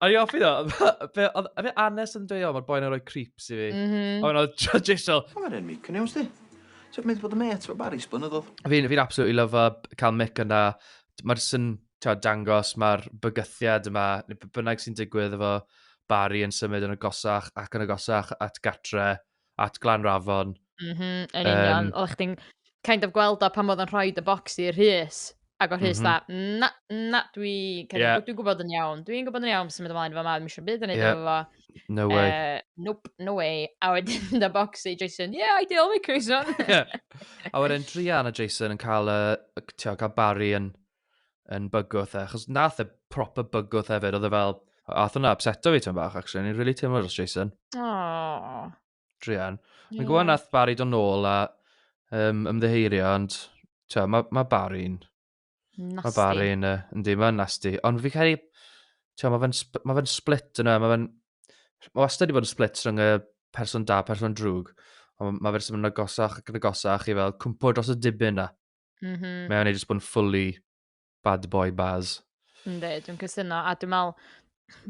A ni offi ddo, oedd e Anes yn dweud, o, mae'r boi'n rhoi creeps i fi. Mm -hmm. A mae'n oedd Jason. Mae'n rhaid mi, cyn iawn sti. Ti'n mynd bod y met o Barry's blynyddoedd. Fi'n fi absolutely love cael mic yna. Mae'r sy'n dangos, mae'r bygythiad yma, bynnag sy'n digwydd efo Barry yn symud yn y gosach ac yn y gosach at gatre. at Glanrafon. Mhm, yn union. Um, Oeddech chdi'n kind of gweld o pan oedd yn rhoi dy bocs i'r Rhys, ac o'r Rhys mm -hmm. da, na, na, dwi, yeah. dwi'n gwybod yn iawn, dwi'n gwybod yn iawn sy'n mynd ymlaen efo ma, ddim eisiau byd yn ei yeah. efo. No way. Uh, nope, no way. A wedyn da bocs i Jason, yeah, I deal with Jason. yeah. A wedyn Drian a Jason yn cael, uh, tio, cael Barry yn yn bygwth, e, achos nath e proper bygwth hefyd, oedd e fel, ath hwnna upseto fi tyn bach, actually, ni'n really teimlo dros Jason. Oh. Drian. Yeah. Mae'n gwybod nath Barry do'n nôl a um, ymddeheirio, ond tio, mae ma Barry'n... Nasty. Mae Barry'n, uh, yndi, mae'n nasty. Ond fi cael ei... Tio, mae fe'n ma fe split yna, mae fe'n... Mae wastad wedi bod yn split rhwng y person da, person drwg. Ond mae fe'n symud yn agosach ac yn agosach i fel cwmpo dros y dibyn na. Mm -hmm. Mae o'n ei jyst bod yn fully bad boy baz. Ynddi, dwi'n cysyno, a dwi'n meddwl,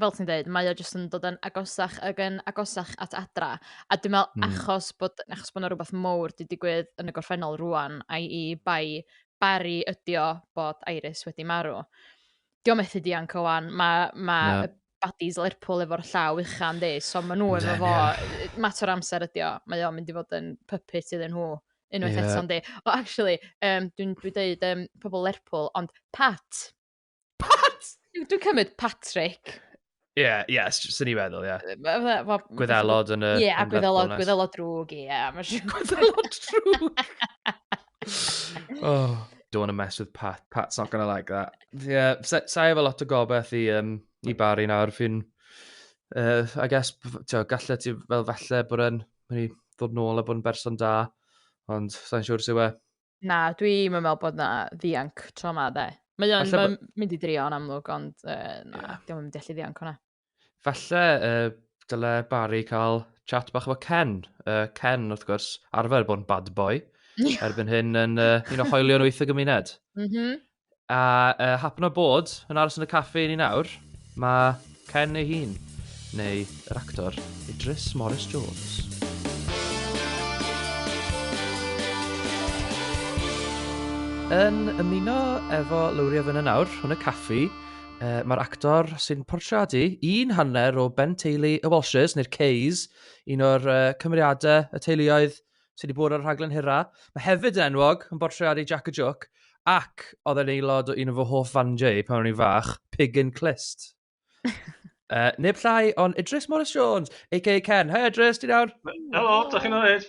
fel ti'n dweud, mae o jyst yn dod yn agosach ag yn agosach at adra. A dwi'n meddwl, mm. achos bod, achos bod yna rhywbeth mowr di digwydd yn y gorffennol rwan, a i bai bari ydio bod Iris wedi marw. Diolch methu dianc o wan, mae ma, no. badis Lerpwl efo'r llaw uchan di, so maen nhw efo fo, mater o amser ydi o, mae o'n mynd i fod yn puppet iddyn nhw unwaith yeah. eto, di. O, actually, um, dwi'n dwi dweud um, pobl Lerpwl, ond Pat. Pat! Dwi'n cymryd Patrick. Ie, yeah, ie, yeah, sy'n ni feddwl, ie. Yeah. Gwyddelod yn y... Ie, yeah, gwyddelod, gwyddelod drwg, ie. Yeah, gwyddelod drwg. oh. Don't want to mess with Pat. Pat's not going to like that. Yeah, sa'i sa efo lot o gobeith i, um, i Barry nawr. Fi'n, uh, I guess, tio, gallu ti fel falle bod yn mynd i ddod nôl a bod yn berson da, ond sa'n siŵr sy'n we. Na, dwi'n meddwl bod na ddianc tro ma, de. Mae'n ma mynd i drio yn amlwg, ond uh, na, yeah. dwi'n mynd i allu ddianc hwnna. Falle uh, dyle Barry cael chat bach efo Ken. Uh, Ken, wrth gwrs, arfer bod yn bad boy. Erbyn hyn yn uh, un o hoelion wyth y gymuned. Mm -hmm. A uh, hapno bod yn aros yn y caffi i ni nawr, mae Ken ei hun, neu yr actor Idris Morris Jones. Yn ymuno efo Lowri a Fynna nawr, hwn y caffi, Uh, Mae'r actor sy'n portreadu un hanner o Ben Teulu y Walshes, neu'r Cays, un o'r uh, cymeriadau y teuluoedd sydd wedi bod ar y rhaglen hyrra. Mae hefyd yn enwog yn bortreadu Jack y Jook, ac oedd e'n aelod o un o fy hoff fandiau pan o'n i'n fach, Pig and Clist. uh, neb llai ond Idris Morris Jones, a.k.a Ken. Hei Idris, ti'n iawn? Helo, da chi'n oed?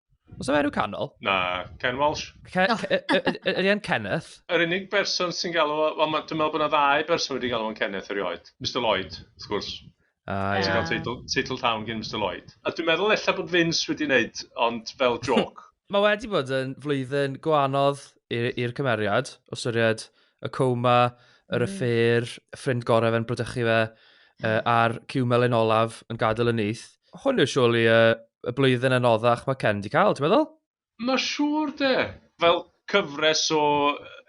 Os yna enw canol? Na, Ken Walsh. Ydy e'n Kenneth? Yr unig berson sy'n galw... Wel, dwi'n meddwl bod yna ddau berson wedi galw yn Kenneth erioed. Mr Lloyd, wrth gwrs. Ah, ie. Ti'n cael teitl, teitl town gen Mr Lloyd. A dwi'n meddwl efallai bod Vince wedi wneud, ond fel joc. Mae wedi bod yn flwyddyn gwanodd i'r cymeriad, o syried y coma, yr yffeir, ffrind gorau fe'n brydychu fe, a'r cymel yn olaf yn gadael y nyth. Hwn yw siwl i uh, y blwyddyn anoddach mae Ken di cael, ti'n meddwl? Mae siŵr de. Fel cyfres o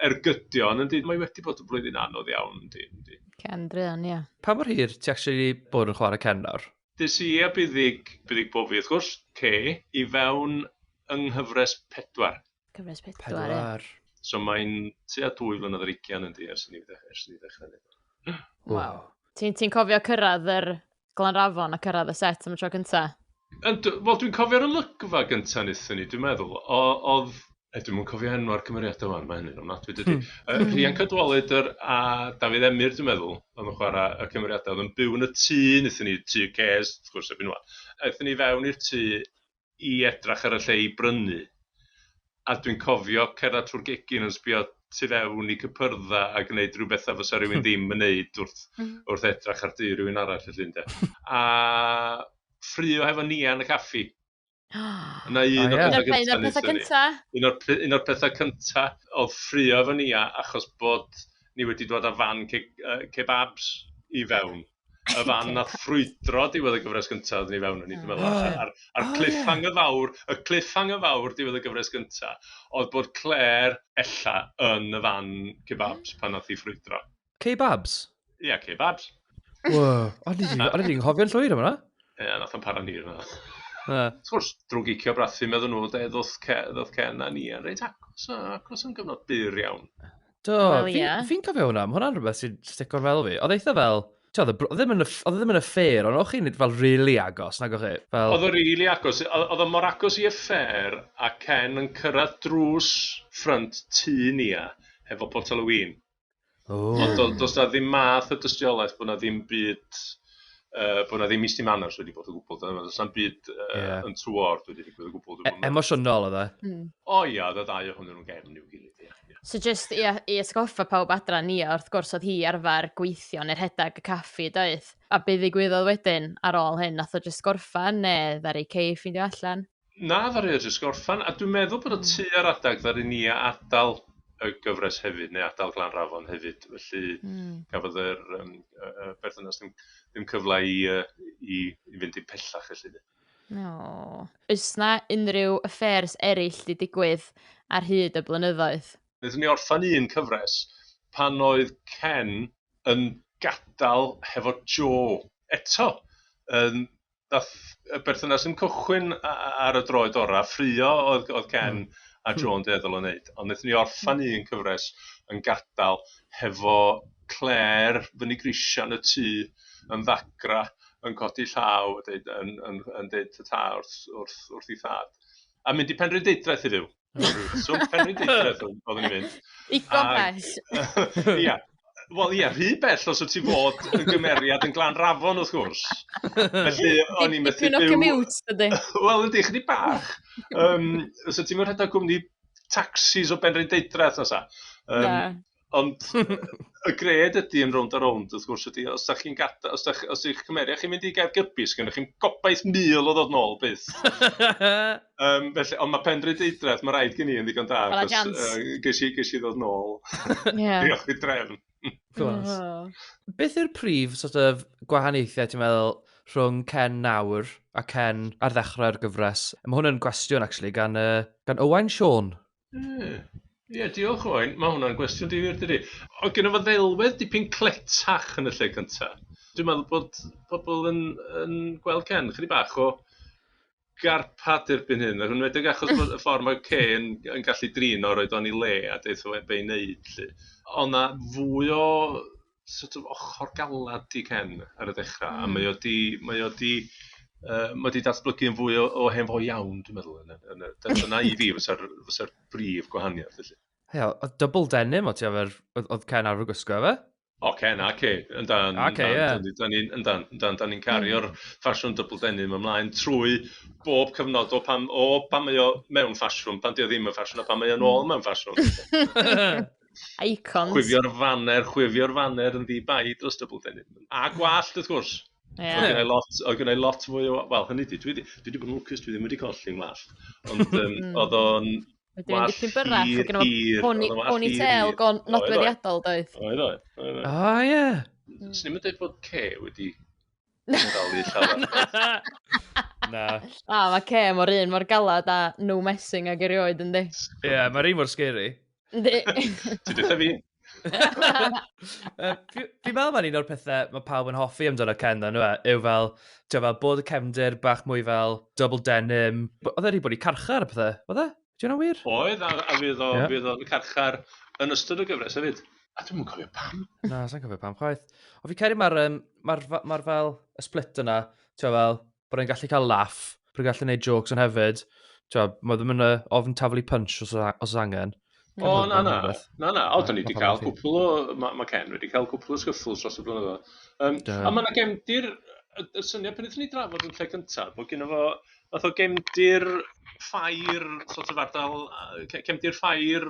ergydion, yndi, mae wedi bod yn blwyddyn anodd iawn, yndi, yndi. Ken Drian, ie. Pa mor hir ti actually bod yn chwarae Ken nawr? Dys i a buddig, buddig bofi wrth gwrs, te, i fewn yng nghyfres pedwar. Cyfres pedwar, pedwar. Ie. So mae'n tua dwy flynedd yr ugian yn di ers i ni ddechrau neud. E. Waw. Ti'n ti cofio cyrraedd yr Glanrafon a cyrraedd y set am y tro cynta? Wel, dwi'n cofio'r olygfa gynta nithon ni, dwi'n meddwl. Oedd E, dwi'n mwyn cofio enw ar cymeriadau fan, mae hynny'n ofnadwy dydy. Hmm. Uh, hmm. Rhian Cadwaledr a Dafydd Emyr, dwi'n meddwl, oedd yn chwarae y cymeriadau. Oedd yn byw yn y tŷ, nethon ni tŷ ces, wrth gwrs, erbyn nhw. Aethon ni fewn i'r tŷ, i edrach ar y lle i brynu a dwi'n cofio cerddad trwy'r gegin yn sbio tu fewn i cypyrdda a gneud rhyw betha fysa rywun ddim yn neud wrth wrth edrach ar dŷ rywun arall felly ynde a ffrio hefo Nia yn y caffi. Yna un o'r petha gynta un o'r petha cynta un o'r un o'r petha cynta o'dd ffrio efo Nia achos bod ni wedi dod a fan ceg- yy kebabs i fewn. y fan okay. nath ffrwydro diwedd y gyfres gyntaf oeddwn i fewn yn i, dwi'n meddwl, oh, yeah. a'r, ar oh, cliffhang yeah. y fawr, y cliffhang y fawr diwedd y gyfres gyntaf, oedd bod Claire ella yn y fan kebabs pan nath i ffrwydro. Kebabs? Ie, yeah, kebabs. Wow, ond i'n hofio'n llwyr yma? Ie, yeah, nath o'n para ni yna. Wrth gwrs, drwy gicio brathu meddyn nhw, ddoth Ken a ni, a reit acos, acos yn gyfnod byr iawn. Do, well, fi'n yeah. fi cofio hwnna, mae hwnna'n rhywbeth sy'n stick o'r fel fi. Oedd eitha fel, oedd e ddim yn y ffair, ond o'ch chi'n nid fel really agos, nag o'ch chi? Fel... Oedd o really agos, oedd o mor agos i y ffair, a Ken yn cyrraedd drws ffrynt tu ni a, hefo potel o win. Oh. Ond does na ddim math o dystiolaeth bod na ddim byd uh, bod yna ddim misty manners wedi bod o gwbl. Does na'm byd uh, yeah. yn tywor wedi digwydd o gwbl. E emosiynol oedd e? Hmm. O ia, oedd y ddau o hwnnw'n gefn i'w gilydd. Yeah, yeah. So just i, i esgoffa pawb adra ni, wrth gwrs oedd hi arfer gweithio neu'r rhedeg y caffi, doedd? A beth ddigwyddodd wedyn ar ôl hyn? Nath o just gorffan neu ddari Cei ffindio allan? Na ddaru o jyst gorffan a dwi'n meddwl bod o tua'r adeg ddaru ni adal y gyfres hefyd neu adal Glanrafon hefyd felly gafodd yr yym yy yy berthynas ddim ddim cyfle i yy i i fynd dim pellach felly 'de. Aww. Oes 'na unrhyw affairs eryll 'di digwydd ar hyd y blynyddoedd? Naethon ni orffan un cyfres pan oedd Ken yn gadal hefo Jo eto yn Daeth y berthynas yn cychwyn ar y droed orau, ffrio oedd, oedd Ken a Joan deddol yn wneud, ond wnaethon ni orffan un cyfres yn gadael hefo Claire fyny grisiau yn y tŷ yn ddagra, yn codi llaw a deud, yn, yn, yn deud ta wrth, wrth, wrth ei thad. A mynd i Penrhyndeudraeth i fyw. Swmp Penrhyn Deudraeth oeddwn i'n mynd. Digon bell. Ia. Wel ia, rhy bell os wyt ti fod yn gymeriad yn glan rafon wrth gwrs. Felly o'n i'n methu byw... Dipyn o commute, dydy. Wel yndi, chdi bach. Um, so ti'n mynd rhedeg cwmni taxis o Benrhyn Deudraeth na sa. Um, Ond y gred ydy yn rownd a rownd, wrth gwrs, ydy, os ydych chi'n gadael, os ydych, os ydych cymeriad chi'n mynd i Gaergybi, sy'n gennych chi'n gobaith mil o ddod nôl, byth. um, felly, ond mae Penrhyd Deidraeth, mae rhaid gen i yn ddigon da, achos uh, ges, i, ges i ddod nôl. yeah. Diolch i drefn. Gwrs. Beth yw'r prif sort of, gwahaniaethau, ti'n meddwl, rhwng Ken nawr a Ken ar ddechrau'r gyfres? Mae hwn yn gwestiwn, actually, gan, uh, gan Owain Sean. Ie, ie, diolch Owain. Mae hwnna'n gwestiwn difyr dydi? Oedd genna fo ddelwedd dipyn cletach yn y lle cynta'. Dwi'n meddwl bod pobl yn yn gweld Ken ychydig bach o garpad erbyn hyn, yn enwedig achos bod y ffordd mae Ken yn gallu drin o, roid o yn ei le a deutha fe be' i neud 'lly. Oedd 'na fwy o sort of ochr galed i Ken ar y dechrau, a mae o 'di, mae o 'di, yy, mae o 'di datblygu yn fwy o o hen fo iawn, dwi'n meddwl, yn y, yn y, dy- dyna i fi fysa'r, fysa'r brif gwahaniaeth, felly. Ie, oedd double denim o ti efo'r... oedd oedd Ken arfer gwisgo efe? O, Ken a Kay, yn dan, A Kay, dan, ie. dan ni'n, yn dan, yn dan, dan ni'n cario'r ffasiwn double denim ymlaen trwy bob cyfnod o pan, o pan mae o mewn ffasiwn, pan 'di o ddim yn ffasiwn, a pan mae o'n ôl mewn ffasiwn. Icons. Chwifio'r faner, chwifio'r faner yn ddi-bai dros dybl deni. A gwallt, wrth gwrs. Yeah. Oedd gennau lot, oedd gennau lot mwy o... Wel, hynny di, dwi wedi bod yn lwcus, dwi ddim wedi colli yn wallt. Ond um, oedd o'n Dwi'n dipyn byrrach, oedd gen i pony, pony tail go nodweddiadol, doedd. Oedd, oedd. O, ie. Swn i'n dweud bod ce wedi Na. Na. Na, mae Kay mor un mor galad a no messing ag erioed yndi. Ie, yeah, mae'r un mor scary. Yndi. Ti dweud fi? Fi'n meddwl mae'n un o'r pethau mae pawb yn hoffi amdano Ken dda, nhw e, yw fel, ti'n fel bod y cefndir bach mwy fel double denim. Oedd e wedi bod i carchar y pethau, oedd e? Di hwnna wir? Oedd, a, a fydd o, yeah. fydd o'n carchar yn ystod y gyfres hefyd. A dwi'n cofio pam. Na, sa'n cofio pam chwaith. O fi cael ei mae'r um, ma ma fel y split yna, ti'n fel, bod e'n gallu cael laff, bod e'n gallu gwneud jokes yn hefyd. Ti'n mae ddim yn ofn taflu punch os, os angen. O, na, na, na, na, o, da ni wedi cael cwpl o, mae ma Ken wedi cael cwpl o sgyffls dros y blynyddoedd. Um, a mae yna gefndir, y, y syniad pan ydyn ni drafod yn lle cyntaf, bod gen fo Fath o gefndir ffair sort of ardal yy cefndir ffair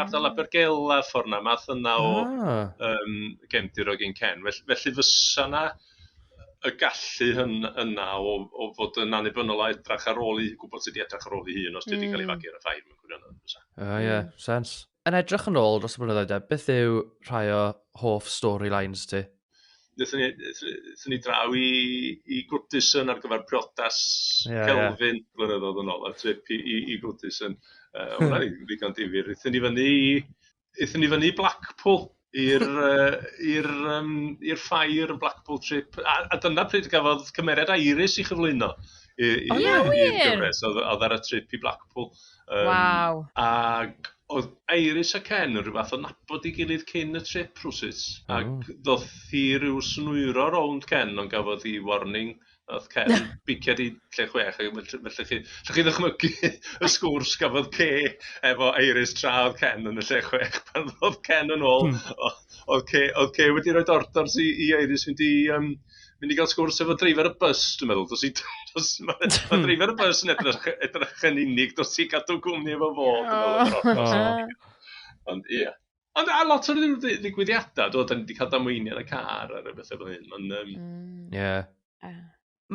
ardal Abergele ffor' 'na, math yna o... o! ...yym gefndir o Gyn-ken. Fell- felly fysa 'na y gallu hyn- yna o o fod yn annibynnol a edrych ar ôl ei... gwybod sut i edrych ar ôl ei hun os 'di o 'di cael ei fagu ar y ffair mewn gwirionedd, bysa. O ia, sense. Yn edrych yn ôl dros y blynyddoedd de, beth yw rhai o hoff storylines ti? Nethon ni, nethon ni draw i, i Gwtison ar gyfer priodas yeah, Kelvin yeah. blynyddoedd yn ôl, a trip i, i, i Gwtison. Uh, Hwna'n ddigon difyr. Ethon ni fyny i, ethon ni fyny i Blackpool i'r yy i'r yym i'r ffair yn Blackpool Trip a a dyna pryd gafodd cymeriad Iris ei chyflwyno i i... O ia wir? ...i'r gyfres oedd oedd ar y trip i Blackpool yym... Waw. ...ac oedd Iris a Ken yn rhyw fath o nabod ei gilydd cyn y trip rywsut ac ddoth hi ryw snwyro rownd Ken ond gafodd hi warning Wnaeth Ken bicied i lle chwech, felly allwch chi allwch chi ddychmygu y sgwrs gafodd Kay efo Iris tra oedd Ken yn y lle chwech. Pan ddodd Ken yn ôl, o- oedd Kay oedd Kay wedi rhoi orders i i Iris mynd i yym mynd i gael sgwrs efo dreifar y bws, dwi'n meddwl. Dos i dos ma' ma' dreifar y bws yn edrych edrych yn unig, dos i gadw cwmni efo fo dwi'n meddwl. Ond ia. Ond a lot o'r ddigwyddiadau, do, da ni wedi cael damweiniau yn y car ar y bethau fel hyn. Ond, um... mm. yeah. uh.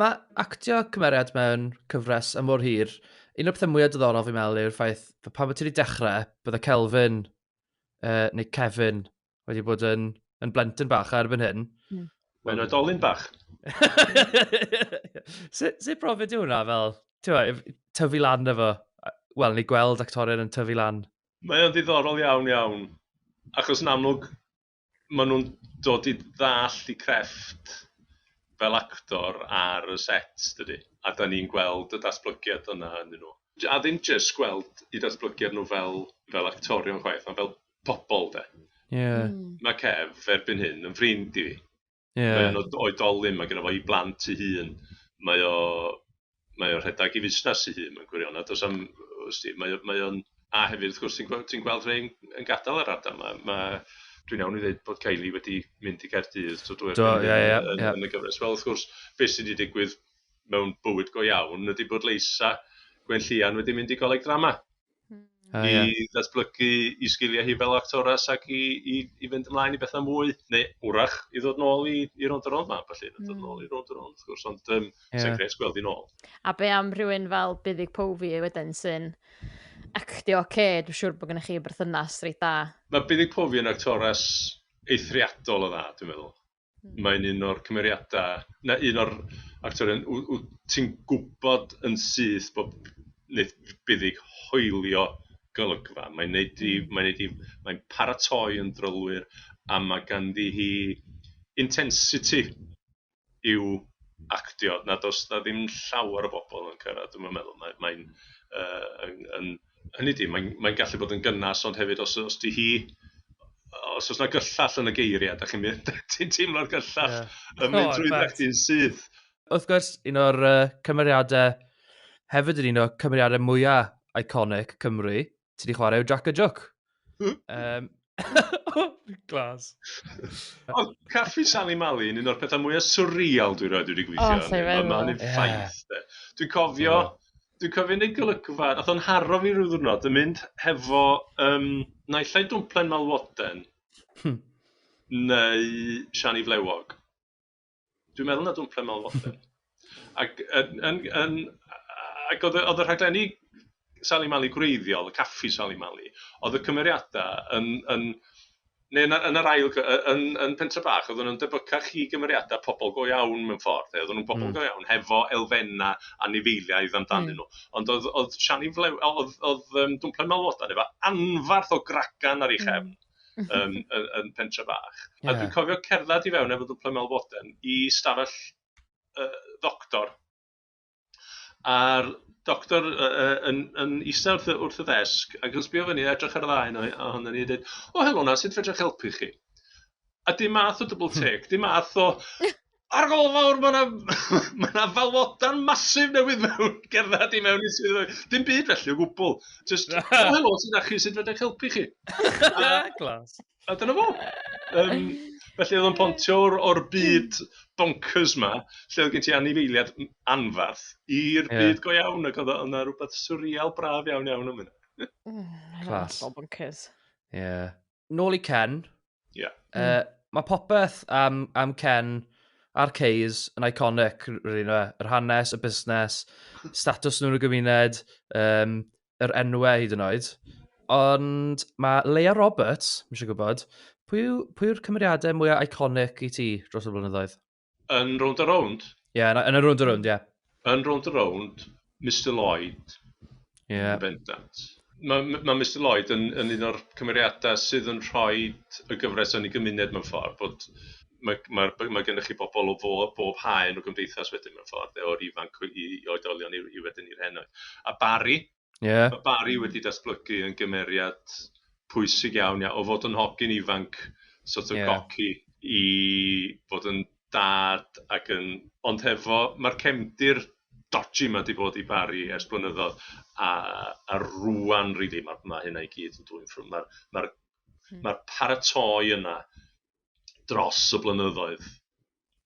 Mae actio cymeriad mewn cyfres yn mor hir, un o'r pethau mwyaf diddorol fi'n meddwl yw'r ffaith bod pan bod ti wedi dechrau, bydde Kelvin, uh, neu Kevin, wedi bod yn, yn blentyn bach ar erbyn hyn. Mm. Mae'n oedolyn bach. Sut si profiad yw hwnna fel, tyfu lan efo, wel, ni gweld actorion yn tyfu lan Mae o'n ddiddorol iawn, iawn, achos yn amlwg maen nhw'n dod i ddallt eu crefft fel actor ar y set, dydy, a dan ni'n gweld y datblygiad yna ynnyn nhw. A ddim jyst gweld eu datblygiad nhw fel fel actorion chwaith, ond fel pobl de. Ie. Mae Kev erbyn hyn yn ffrind i fi. Yeah. Mae o'n oedolyn, mae genna fo ei blant ei hun. Mae o mae o'n rhedeg ei fusnes ei hun mewn gwirionedd. Does am, wsti, mae, mae o'n... A hefyd, wrth gwrs, ti'n gweld, ti gweld rhai'n yn gadael yr ardal yma. Mae, dwi'n iawn i ddweud bod Kylie wedi mynd i Gaerdydd, to dwy'r yeah, yeah, yeah. yn, yn y gyfres. Wel, wrth gwrs, beth sydd wedi digwydd mewn bywyd go iawn ydy bod Leisa Gwenllian wedi mynd i goleg drama. Oh, I yeah. ddatblygu i sgiliau hi fel actores ac i, i, i fynd ymlaen i bethau mwy, neu wrach i ddod nôl i, i rond yr ond ma, felly, mm. ddod nôl i rond yr ond, wrth gwrs, ond um, yeah. sy'n gres gweld i'n ôl. A be am rhywun fel Buddig Pofi wedyn sy'n actio oce, okay, dwi'n siŵr bod gennych chi berthynas reit da. Mae Buddig Pofi yn actores eithriadol o dda, dwi'n meddwl. Mae'n un o'r cymeriadau, na un o'r actorion w- wyt ti'n gwybod yn syth bod wneith Buddug hoelio golygfa. Mae'n wneud hi... mae'n wneud hi... mae'n paratoi yn drylwyr a mae ganddi hi intensity i'w actio nad oes 'na ddim llawer o bobl yn cyrraedd, dwi'm yn meddwl. Mae mae'n yy yn yn... hynny ydi, mae'n mae'n gallu bod yn gynnes, ond hefyd os os 'di hi... os oes 'na gyllell yn y geiriau, dach chi'n mynd, ti'n teimlo'r gyllell yeah. yn mynd trwy ddech yn syth. Wrth gwrs, un o'r uh, cymeriadau, hefyd yn un o'r cymeriadau mwyaf iconic Cymru, ti wedi chwarae yw Jack a Jook. um, Glas. Ond caffi Sally Mali yn un o'r pethau mwyaf surreal dwi'n rhaid wedi gweithio. Oh, mae ma hynny'n ffaith. Yeah. Dwi'n cofio, yeah. dwi'n cofio yn ei golygfa, nath o'n haro fi rhyw ddwrnod, yn mynd hefo um, naillai dwmplen malwoden, hmm. neu siani flewog. Dwi'n meddwl na Don't Play Mel Watson. Ac yn, yn, yn, ac oedd, oedd y rhaglenni Sali Mali gwreiddiol, y caffi Sali Mali, oedd y cymeriadau yn, yn, neu yn, yn yr ail, yn, yn Pentre Bach, oedden nhw'n debycach i gymeriadau pobl go iawn mewn ffordd. Oedden nhw'n pobl mm. go iawn, hefo elfenna a nifeiliaidd amdanyn mm. nhw. Ond oedd, oedd Siani Flew, oedd, oedd um, Dwmplen Malwodan efo anfarth o gragan ar ei chefn. Mm um, yn, yn pentre bach. Yeah. A dwi'n cofio cerdded i fewn efo dwplen melfoden i stafell uh, ddoctor. A'r doctor uh, yn, yn eistedd wrth, wrth y ddesg ac yn sbio fyny edrych ar y ddau yna ohono ni a dweud, o helo na, sut fedrwch helpu chi? A dim math o double hmm. take, dim math o Ar ôl nawr, mae yna mae yna falwodan masif newydd mewn gerdded i mewn i swyddfeydd. Dim byd felly o gwbl. Just, o helo, sydd â chi, sut fydde eich helpu chi? Glas. A dyna fo. Um, felly oedd o'n pontio o'r, or byd bonkers ma, lle oedd gen ti anifeiliad anfarth, i'r yeah. byd go iawn, ac oedd yna rhywbeth surreal braf iawn iawn am hynny. Clas. Bonkers. Ie. Yeah. nôl i Ken. Ie. Yeah. Uh, mm. Mae popeth am, am Ken a'r Ceys yn iconic, rydyn nhw, yr hanes, y busnes, status nhw'n y gymuned, um, yr enwau hyd yn oed. Ond mae Leia Roberts, mi eisiau gwybod, pwy yw'r cymeriadau mwyaf iconic i ti dros y blynyddoedd? Yn rownd a rownd? Ie, yeah, yn y rownd a rownd, ie. Yeah. Yn rownd a rownd, Mr Lloyd. Ie. Yeah. Bendant. Mae ma Mr Lloyd yn, yn un o'r cymeriadau sydd yn rhoi y gyfres yn ei gymuned mewn ffordd, bod mae, mae, mae gennych chi bobl o bob, bob haen o gymdeithas wedyn mewn ffordd, o'r ifanc i, i oedolion i, i wedyn i'r henoed. A Barry, Yeah. Mae Barry wedi datblygu yn gymeriad pwysig iawn, ia, o fod yn hogyn ifanc, sort of yeah. goci, i fod yn dad ac yn... Ond hefo, mae'r cefndir dodgy yma wedi bod i Barry ers blynyddoedd, a, a rwan, rili, really, mae, mae hynna i gyd yn dwy'n ffrwm. Mae'r ma hmm. ma paratoi yna dros y blynyddoedd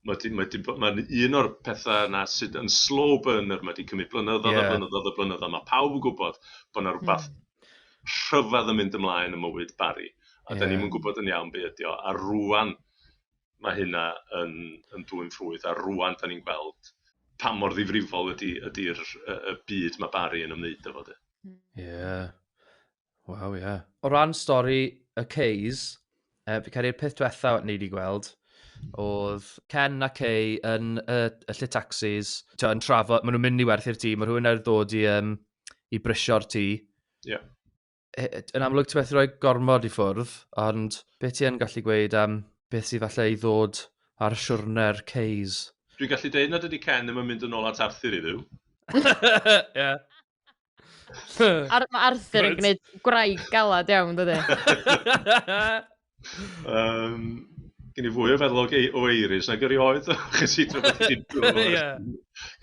mae 'di, mae 'di, mae'n un o'r pethau yna sydd yn slow burner, mae 'di cymryd blynyddoedd yeah. a blynyddoedd a blynyddoedd. Mae pawb yn gwybod bod yna rhywbeth mm. rhyfedd yn mynd ymlaen yn mywyd Barry, a yeah. da ni'n gwybod yn iawn be ydi o, a rwan mae hynna yn, yn dwy'n ffrwydd, a rwan da ni'n gweld pa mor ddifrifol ydy'r ydy, ydy y byd mae Barry yn ymwneud efo. Ie. Yeah. Waw, ie. Yeah. O ran stori y Keys, uh, fi cael ei'r peth diwetha ni wedi gweld, oedd Ken a Kay yn y, y lle taxis, to, yn trafod, maen nhw'n mynd i werthu'r tŷ, mae rhywun ar ddod i, um, i brisio'r tŷ. Ie. Yeah. Yn amlwg ti'n methu rhoi gormod i ffwrdd, ond beth ti yn gallu gweud am beth sydd falle i ddod ar siwrne'r Keys? Dwi'n gallu deud nad ydy Ken ddim yn mynd yn ôl at Arthur i ddiw. Ie. Ar, mae Arthur yn gwneud gwraig galad iawn, dydy? um, gen i fwy o feddwl o eiris nag erioed, chys i drwy bod i'n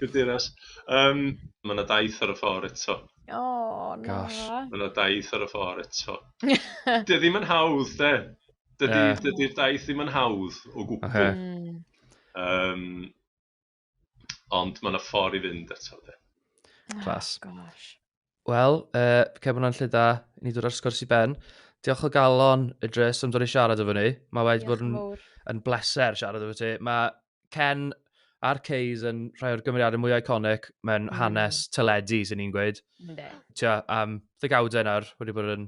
Cadeiras. Um, mae yna daith ar y ffordd eto. O, oh, na. Mae yna daith ar y ffordd eto. Dy ddim yn hawdd, de. Dydy'r yeah. dydy daith ddim yn hawdd o gwbl. Okay. Um, Ond mae yna ffordd i fynd eto, de. Clas. Oh, gosh. Wel, uh, cefn hwnna'n lle da, ni ddod ar sgwrs i ben. Diolch o galon, Idris, am ddod i siarad efo ni. Mae wedi bod yn, yn bleser siarad efo ti. Mae Ken a'r Keys yn rhai o'r gymeriadau mwy iconic mewn mm. hanes teledu, sy'n ni'n gweud. Ynde. Tia, am um, ddegawdau nawr, wedi bod yn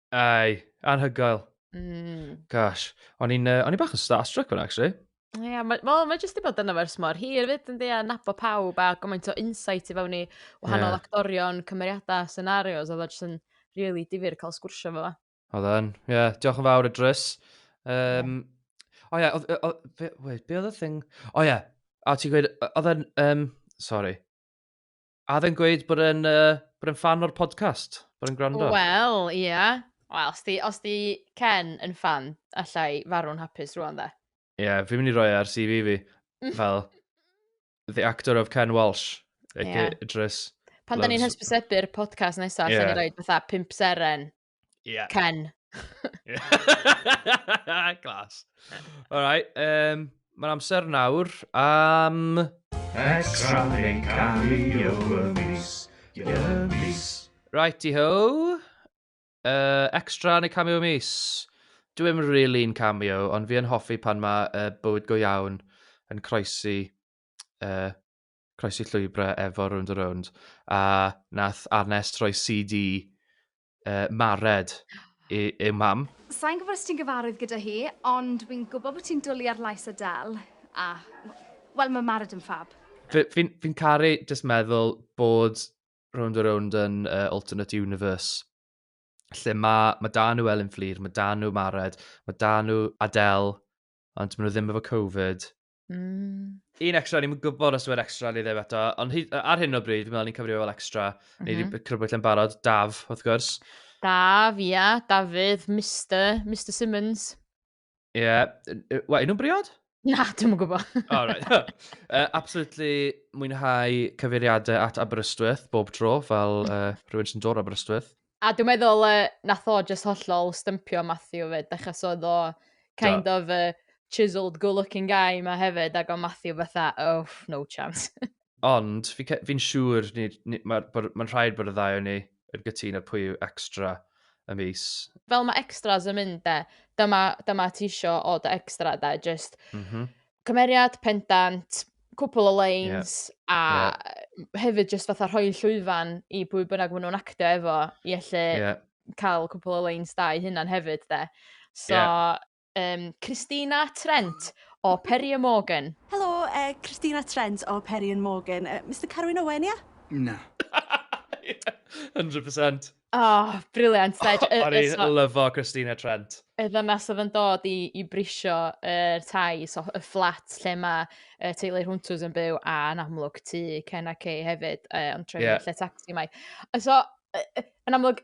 Ai, anhygoel. Mm. Gosh. O'n i'n uh, bach yn starstruck o'n actually. Ie, yeah, mae ma, ma jyst i bod yna fers mor hir fyd yn dweud a nabod pawb a gymaint o insight i fewn i wahanol yeah. actorion, cymeriadau, scenarios, oedd o jyst yn really difyr cael sgwrsio fo. Oedd yn, ie, yeah, diolch yn fawr y drys. Um, yeah. O ie, yeah, wait, be oedd y thing? O ie, yeah. a ti'n gweud, oedd yn, um, sorry, A oedd e'n gweud bod e'n uh, bod e'n fan o'r podcast? Bod e'n gwrando? Wel, ia. Yeah. Wel, os di, os di Ken yn fan, allai farw'n hapus rwan dda. Ie, yeah, fi'n mynd i roi e ar CV fi. Fel, the actor of Ken Walsh. Ac yeah. Idris. Pan da ni'n hysbysebu'r podcast nesaf, yeah. da ni'n rhoi fatha pimp seren Yeah. Ken. Glas. Alright, um, mae'n amser nawr am... Extra neu cario y mis, y mis. Righty ho. Uh, extra neu cameo mis. Dwi ddim really'n cameo, ond fi yn hoffi pan mae uh, bywyd go iawn yn croesi uh, croesi llwybrau efo Round a Round, a nath Arnes roi CD uh, Mared i, i mam. Sa'n gwybod os ti'n gyfarwydd gyda hi, ond wy'n gwybod bod ti'n dwlu ar lais Adele, a, wel, mae Mared yn ffab. Fi'n fi, fi caru just meddwl bod Round a Round yn uh, alternate universe, lle mae ma da nhw Elin Fflir, mae da nhw Mared, mae da nhw Adele, ond maen nhw ddim efo Covid, Mm. Un extra, ni'n gwybod os yw'n extra neu ddim eto, ond ar hyn o bryd, fi'n meddwl ni'n cyfrifio fel extra, mm -hmm. neu wedi mhm. crybwyll yn barod, Daf, wrth gwrs. Daf, ia, yeah, Dafydd, Mr, Mr Simmons. Ie, yeah. Wa, nhw'n briod? Na, dwi'n yn gwybod. oh, right. uh, absolutely mwynhau cyfeiriadau at Aberystwyth bob tro, fel uh, rhywun sy'n dod Aberystwyth. A dwi'n meddwl uh, nath o just hollol stympio Matthew fyd, achos oedd o kind Do. of a chiseled good-looking guy ma hefyd, ac o Matthew fatha, oh, no chance. Ond, fi'n fi, fi siŵr, mae'n ma, ma rhaid bod y ddau o'n ni yn gytun ar pwy yw extra y mis. Fel mae extras yn mynd de, dyma, dyma ti isio o dy extra de, just... Mm -hmm. cymeriad, pendant, cwpl o lines, yeah. a yeah. hefyd jyst fatha rhoi llwyfan i bwy bynnag maen nhw'n actio efo, i allu yeah. cael cwpl o lines da i hynna'n hefyd, de. So, yeah. um, Christina Trent o Perry and Morgan. Helo, uh, Christina Trent o Perry and Morgan. Uh, Mr Carwyn Owen, ia? Yeah? Na. 100%. Oh, briliant. O'n i'n lyfo Christina Trent. Y ddynas oedd yn dod i, i brisio yr uh, tai, so y fflat lle mae uh, teulu Hwntws yn byw, a yn amlwg tu Ken a Kay hefyd, uh, ond trefnu yeah. lle taxi mae. So, uh, yn amlwg,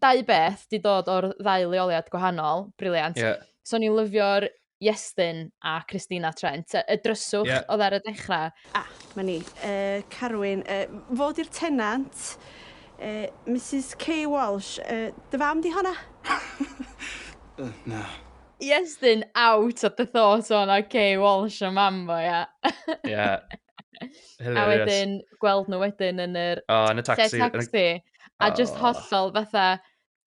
dau beth di dod o'r ddau leoliad gwahanol, briliant. Yeah. So ni'n lyfio'r Iestyn a Christina Trent. Y dryswch yeah. oedd ar y dechrau. A, ah, mae ni. Uh, Carwyn, uh, fod i'r tenant, uh, Mrs Kay Walsh, uh, dy fam di honna? uh, na. Iestyn out of the thought o'n o Kay Walsh o mam fo, ia. Ie. A wedyn, gweld nhw wedyn yn yr... Oh, yn y taxi. Taxi. A oh. just hollol fatha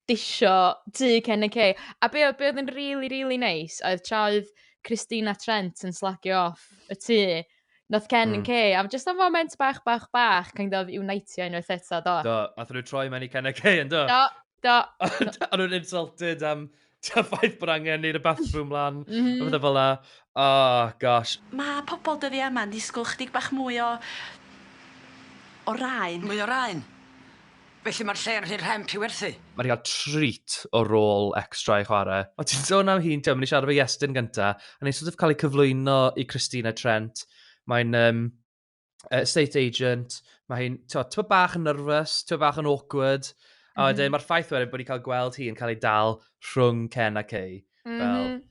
disio du cen y ce. A be oedd, be oedd yn rili, really, rili really neis, nice, oedd tra oedd Christina Trent yn slagio off y tu, Nath Ken mm. yn ce, am just am foment bach, bach, bach, kind of unitio unwaith eto, do. Do, nath nhw troi mewn i Ken a Kay, yn do? Do, do. Ond nhw'n insulted am ta ffaith bod angen neud y bathroom lan, mm -hmm. a bethau fel la. Oh, gosh. Mae pobl dyddi yma'n disgwyl chdig bach mwy o... o raen. Mwy o raen? Felly mae'r lle yn rhy rhemp i werthu? Mae rhi cael treat o rôl extra i chwarae. O ti'n sôn am hi'n teimlo, ni siarad efo Iestyn gynta, a ni'n sort of cael ei cyflwyno i Christina Trent, mae'n um, estate agent, mae hi'n, ti'n bod bach yn nervous, ti'n bod bach yn awkward, a wedyn mm -hmm. mae'r ffaith wedyn bod ni'n cael gweld hi yn cael ei dal rhwng Ken a Kay, mm -hmm. fel, mhm.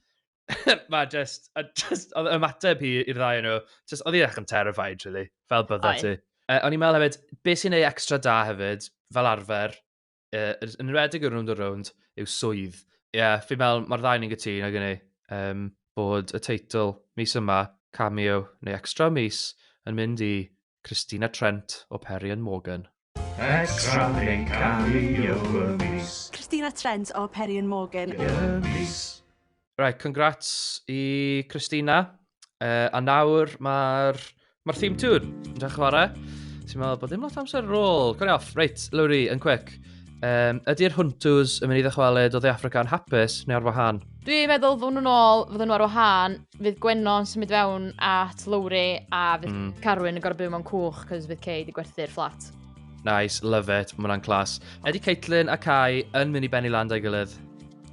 mae just, a just, oedd ymateb hi i'r ddau nhw, just, oedd hi'n eich yn terrified, really, fel bydda ti. Uh, o'n i'n meddwl hefyd, beth sy'n ei extra da hefyd, fel arfer, uh, yn rhedeg y rwnd o rwnd, yw swydd. Ie, yeah, fi'n meddwl, mae'r ddau ni'n gytun ag yna, um, bod y teitl mis yma, cameo, neu extra mis, yn mynd i Christina Trent o Perry and Morgan. Extra yn camu yo y mis. Christina Trent o Perry and Morgan. Y mis. Right, congrats i Christina. Uh, a nawr mae'r ma theme tune yn dweud chwarae. Ti'n meddwl bod dim lot amser ar ôl. Cwrdd off. Reit, Lowry, yn quick. Um, ydy'r Huntws yn mynd i ddychwelyd o The Africa yn hapus neu ar wahân? Dwi'n meddwl fod nhw'n ôl, fod nhw ar wahân, fydd Gwenno yn symud fewn at Lowry a fydd mm. Carwyn yn gorfod byw mewn cwch cos fydd Kay wedi gwerthu'r fflat. Nice, love it, mae hwnna'n clas. Ydy Caitlin a Kai yn mynd i benni land o'i gilydd?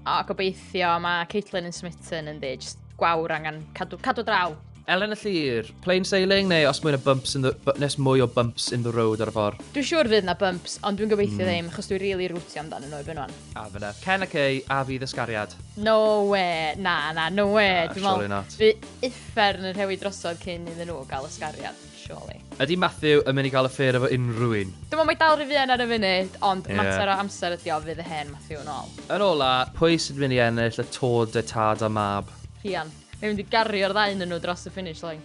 O, gobeithio, mae Caitlin yn smitten yn ddi, just gwawr angen cadw, cadw draw. Elen y Llyr, plain sailing neu os mwyn o bumps in the, nes mwy o bumps in the road ar y ffordd? Dwi'n siŵr fydd na bumps, ond dwi'n gobeithio mm. ddim, achos dwi'n rili really rwtio amdano nhw i bynwan. A fyna. Ken a Kay a fi ddysgariad. No we, na, na, no we. Na, Dwi'n surely meddwl, not. Fi uffern yn rhewi drosodd cyn iddyn nhw gael ysgariad, surely. Ydy Matthew yn mynd i gael affair efo unrhyw un? Dwi'n meddwl mae dal rhy fuan ar y funud, ond Ie. mater o amser ydi o, fydd y hen Matthew yn ôl. Yn ola, pwy sy'n mynd i ennill y Tour de Tad a Mab? Rhian. Mae'n mynd i gario'r ddau ynnyn nhw dros y finish line.